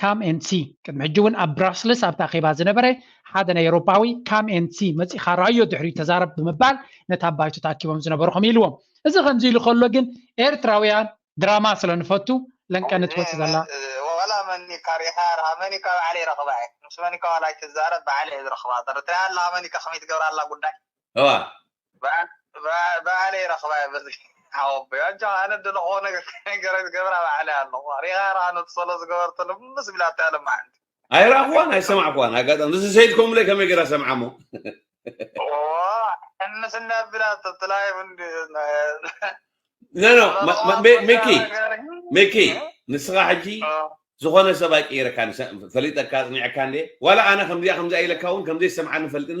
ካም ኤንድ ሲ ቅድሚ ሕጂ እውን ኣብ ብራስልስ ኣብቲ ኣኼባ ዝነበረ ሓደ ናይ ኤውሮፓዊ ካም ኤንድ ሲ መጺኻ ረኣዮ ድሕሪኡ ተዛረብ ብምባል ነቲ ኣብ ባይቶ ተኣኪቦም ዝነበሩ ከምኡ ኢልዎም እዚ ከምዚ ኢሉ ከሎ ግን ኤርትራውያን ድራማ ስለ ንፈቱ ለንቀ ንትወጽእ ዘላ ዋላ መን ኢካ ሪኢካ ርኣ መን ኢካ ባዕለይ ረክባ እየ ምስ መን ኢካ ዋላ ኣይትዛረብ ባዕለይ እየ ዝረክባ ተረድተያ ኣለካ መን ኢካ ከመይ ትገብራ ኣላ ጉዳይ እዋ ባዕለይ ረኽባ እየ በዚ ሓወቦይ ኣጆኻ ኣነ ድለኽዎ ነገር ከይነገረይ ዝገብራ ባዕለይ ኣለኹ ሪኢኻ ረኣ ነቲ ሶሎ ዝገበርቶ ልምስ ቢላቶ እያ ሎማዓንቲ ኣይረኣኽዋን ኣይሰማዕክዋን ኣጋጣሚ ምስ ሰይድ ኮምለይ ከመይ ገይራ ሰምዓ እሞ ሕምስ እንዳ ቢላቶ እቲ ላይቭ እንዲ ኖ ኖ ሚኪ ሚኪ ንስኻ ሕጂ ዝኾነ ሰብ ኣይቅይረካን ፈሊጠካ ኣጽኒዐካ እንዴ ዋላ ኣነ ከምዚኣ ከምዚኣ ኢለካ እውን ከምዘይሰምዓኒ ፈልጥን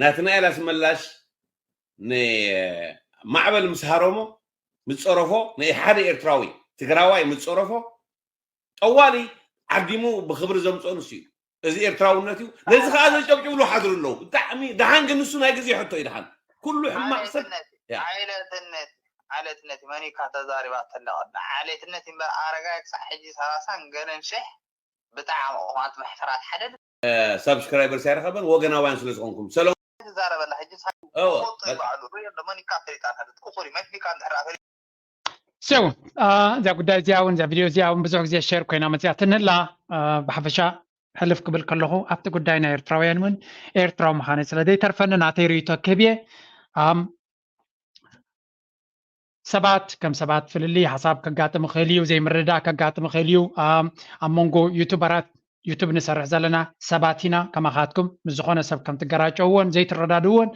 ናትናኤል ኣስመላሽ ንማዕበል ምስ ሃረሞ ምስ ፀረፎ ንሓደ ኤርትራዊ ትግራዋይ ምስ ፀረፎ ጠዋሊ ዓዲሙ ብክብሪ ዘምፅኦ ንሱ እዩ እዚ ኤርትራውነት እዩ ነዚ ከዓ ዘጨብጭብሉ ሓድሩ ኣለዉ ብጣዕሚ ድሓን ግን ንሱ ናይ ግዜ ሕቶ እዩ ድሓን ኩሉ ሕማቅ ሰብ ዓሌትነት ዓሌትነት መን እዩካ ተዛሪባ ተለቀ ዓሌትነት እምበር ኣረጋይ ክሳዕ ሕጂ ሰላሳን ገለን ሽሕ ብጣዕሚ ቁማት መሕፈራት ሓደ ሳብስክራይበርስ ኣይረኸበን ወገናውያን ስለ ዝኾንኩም ሰለሙን ዛረበላ ሕጂ ፈልጦ ይበዓሉ ሪኦ ኣሎ መን ካብ ፈሊጣ ንሕልት ኩኹሪ መን ቢካ እንድሕር ኣፈሊ ሰው እዛ ጉዳይ እዚኣ እውን እዛ ቪድዮ እዚኣ እውን ብዙሕ ግዜ ሸር ኮይና መፅያትኒ ኣላ ብሓፈሻ ሕልፍ ክብል ከለኹ ኣብቲ ጉዳይ ናይ ኤርትራውያን እውን ኤርትራዊ ምዃነ ስለ ዘይተርፈኒ ናተይ ርእይቶ ክህብ እየ ሰባት ከም ሰባት ፍልልይ ሓሳብ ከጋጥም ይኽእል እዩ፣ ዘይምርድዳእ ከጋጥም ይኽእል እዩ። ኣብ መንጎ ዩቱበራት ዩቱብ ንሰርሕ ዘለና ሰባት ኢና ከማኻትኩም ምስ ዝኾነ ሰብ ከም ትገራጨውዎን ዘይትረዳድእዎን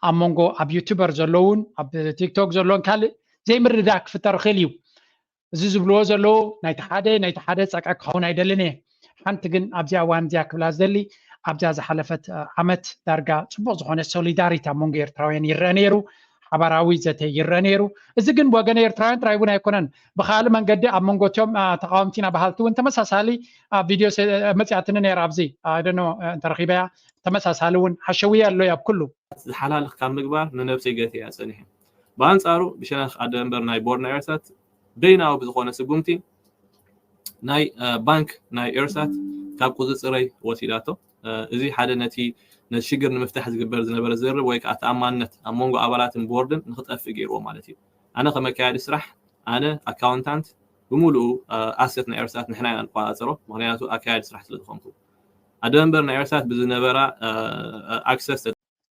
ኣብ መንጎ ኣብ ዩቱበር ዘለውን ኣብ ቲክቶክ ዘለውን ካልእ ዘይምርድዳእ ክፍጠር ይኽእል እዩ። እዚ ዝብልዎ ዘለዉ ናይቲ ሓደ ናይቲ ሓደ ፀቀ ክኸውን ኣይደልን እየ ሓንቲ ግን ኣብዚኣ እዋን እዚኣ ክብላ ዝደሊ ኣብዛ ዝሓለፈት ዓመት ዳርጋ ፅቡቅ ዝኾነ ሶሊዳሪቲ ኣብ መንጎ ኤርትራውያን ይረአ ነይሩ ሓባራዊ ዘተ ይረአ ነይሩ እዚ ግን ወገን ኤርትራውያን ጥራይ እውን ኣይኮነን ብካልእ መንገዲ ኣብ መንጎ እትዮም ተቃወምቲና በሃልቲ እውን ተመሳሳሊ ቪድዮ መፅያትኒ ነይራ ኣብዚ ደኖ እንተረኪበያ ተመሳሳሊ እውን ሓሸውያ ኣሎ ኣብ ኩሉ ዝሓላልክ ካብ ምግባር ንነብሰይ ገትያ ፀኒሐ ብኣንጻሩ ብሸነኽ ኣደመንበር ናይ ቦርና ኤርሳት በይናዊ ብዝኾነ ስጉምቲ ናይ ባንክ ናይ ኤርሳት ካብ ቁጽጽረይ ወሲዳቶ። እዚ ሓደ ነቲ ነቲ ሽግር ንምፍታሕ ዝግበር ዝነበረ ዝርርብ ወይ ከኣ ተኣማንነት ኣብ መንጎ ኣባላትን ቦርድን ንኽጠፍእ ገይርዎ ማለት እዩ። ኣነ ከም ኣካያዲ ስራሕ ኣነ ኣካውንታንት ብምሉኡ ኣሰት ናይ ኤርሳት ንሕና ኢና ንቆጻጸሮ ምኽንያቱ ኣካያዲ ስራሕ ስለ ዝኾንኩ። ኣደመንበር ናይ ኤርሳት ብዝነበራ ኣክሰስ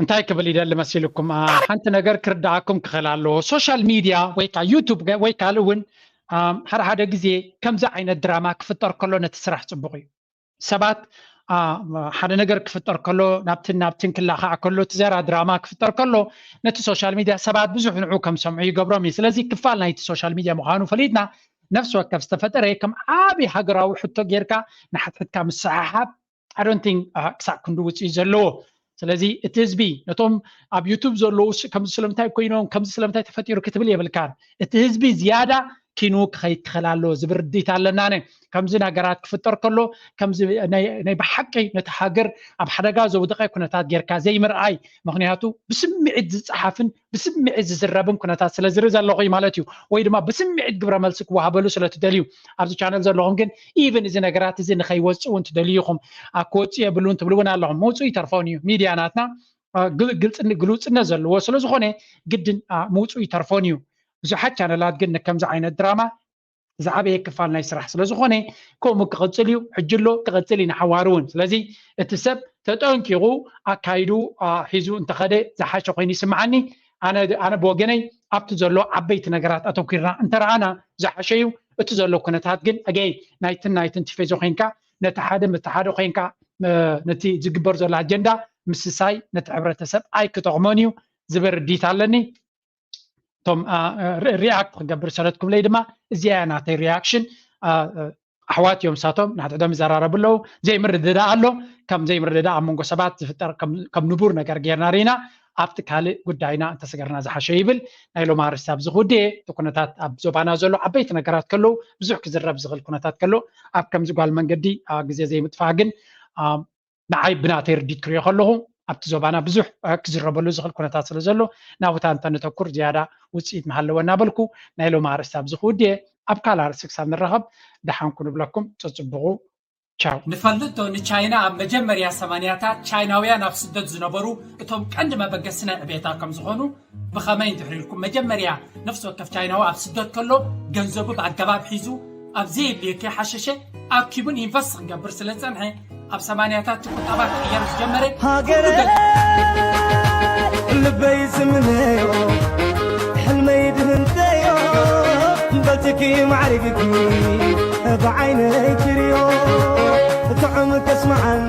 እንታይ ክብል ይደሊ መሲልኩም ሓንቲ ነገር ክርዳኣኩም ክኽእል ኣለዎ ሶሻል ሚድያ ወይ ከዓ ዩቱብ ወይ ካልእ እውን ሓደ ሓደ ግዜ ከምዚ ዓይነት ድራማ ክፍጠር ከሎ ነቲ ስራሕ ፅቡቅ እዩ ሰባት ሓደ ነገር ክፍጠር ከሎ ናብትን ናብትን ክላካዕ ከሎ እቲ ዘራ ድራማ ክፍጠር ከሎ ነቲ ሶሻል ሚድያ ሰባት ብዙሕ ንዑ ከም ሰምዑ ይገብሮም እዩ ስለዚ ክፋል ናይቲ ሶሻል ሚድያ ምዃኑ ፈሊጥና ነፍሲ ወከፍ ዝተፈጠረ ከም ዓብዪ ሃገራዊ ሕቶ ጌርካ ንሓትሕትካ ምስሓሓብ I don't think uh, ክሳዕ ክንዲ ውፅኢት ዘለዎ ስለዚ እቲ ህዝቢ ነቶም ኣብ ዩቱብ ዘለዉ ከምዚ ስለምንታይ ኮይኖም ከምዚ ስለምንታይ ተፈጢሩ ክትብል የብልካን እቲ ህዝቢ ዝያዳ ኪኑ ክኸይድ ክኽእል ኣሎ ዝብል ርድኢት ኣለና ነ ከምዚ ነገራት ክፍጠር ከሎ ከምዚ ናይ ብሓቂ ነቲ ሃገር ኣብ ሓደጋ ዘውደቐ ኩነታት ጌርካ ዘይምርኣይ ምክንያቱ ብስምዒት ዝፀሓፍን ብስምዒት ዝዝረብን ኩነታት ስለ ዝርኢ ዘለኹ እዩ ማለት እዩ ወይ ድማ ብስምዒት ግብረ መልሲ ክወሃበሉ ስለ ትደልዩ ኣብዚ ቻነል ዘለኹም ግን ኢቭን እዚ ነገራት እዚ ንኸይወፅእ እውን ትደልዩ ኢኹም ኣክወፁ የብሉን ትብሉ እውን ኣለኹም ምውፅኡ ይተርፎን እዩ ሚድያ ናትና ግልፅን ግልውፅነት ዘለዎ ስለ ዝኾነ ግድን ምውፅኡ ይተርፎን እዩ ብዙሓት ቻነላት ግን ንከምዚ ዓይነት ድራማ ዝዓበየ ክፋል ናይ ስራሕ ስለ ዝኾነ ከምኡ ክቕፅል እዩ ሕጂ ኣሎ ክቕፅል እዩ ንሓዋሩ እውን ስለዚ እቲ ሰብ ተጠንቂቑ ኣካይዱ ሒዙ እንተኸደ ዝሓሸ ኮይኑ ይስምዓኒ ኣነ ብወገነይ ኣብቲ ዘሎ ዓበይቲ ነገራት ኣተኪርና እንተረኣና ዝሓሸ እዩ እቲ ዘሎ ኩነታት ግን ኣገይ ናይትን ናይትን ቲፌዞ ኮንካ ነቲ ሓደ ምቲ ሓደ ኮንካ ነቲ ዝግበር ዘሎ ኣጀንዳ ምስሳይ ነቲ ሕብረተሰብ ኣይክጠቕሞን እዩ ዝብል ርዲት ኣለኒ እቶም ሪኣክት ክገብር ሰረት ክብለይ ድማ እዚኣ እያ ናተይ ሪያክሽን ኣሕዋት እዮም ንሳቶም ንሓድሕዶም ይዘራረቡ ኣለዉ ዘይምርድዳእ ኣሎ ከም ዘይምርድዳእ ኣብ መንጎ ሰባት ዝፍጠር ከም ንቡር ነገር ጌርና ርኢና ኣብቲ ካልእ ጉዳይና እንተሰገርና ዝሓሸ ይብል ናይ ሎም ኣርስቲ ኣብዚ ክውድእ እየ እቲ ኩነታት ኣብ ዞባና ዘሎ ዓበይቲ ነገራት ከለዉ ብዙሕ ክዝረብ ዝኽእል ኩነታት ከሎ ኣብ ከምዚ ጓል መንገዲ ግዜ ዘይምጥፋእ ግን ንዓይ ብናተይ ርዲት ክሪኦ ከለኹ ኣብቲ ዞባና ብዙሕ ክዝረበሉ ዝኽእል ኩነታት ስለ ዘሎ ናብታ እንተነተኩር ዝያዳ ውፅኢት ምሃለወ እናበልኩ ናይ ሎሚ ኣርእስቲ ኣብዚ ክውድየ ኣብ ካልእ ኣርእስቲ ክሳብ ንራኸብ ደሓን ኩኑ እብለኩም ፀፅብቑ ቻው። ንፈልጥ ዶ ንቻይና ኣብ መጀመርያ ሰማንያታት ቻይናውያን ኣብ ስደት ዝነበሩ እቶም ቀንዲ መበገሲ ናይ ዕብየታ ከም ዝኾኑ፣ ብኸመይ እንድሕሪ ኢልኩም መጀመርያ ነፍሲ ወከፍ ቻይናዊ ኣብ ስደት ከሎ ገንዘቡ ብኣገባብ ሒዙ ኣብ ዘየድልዮ ከይሓሸሸ ኣኪቡን ኢንቨስት ክገብር ስለ ዝጸንሐ ኣብ ሰማንያታት እቲ ቁጠባ ክቕየር ዝጀመረ ሃገረ ልበይ ዝምነዮ ሕልመይ ድህንተዮ በትኪ ማዕርግኪ ብዓይነይ ትርዮ ጥዑም ከስመዓኒ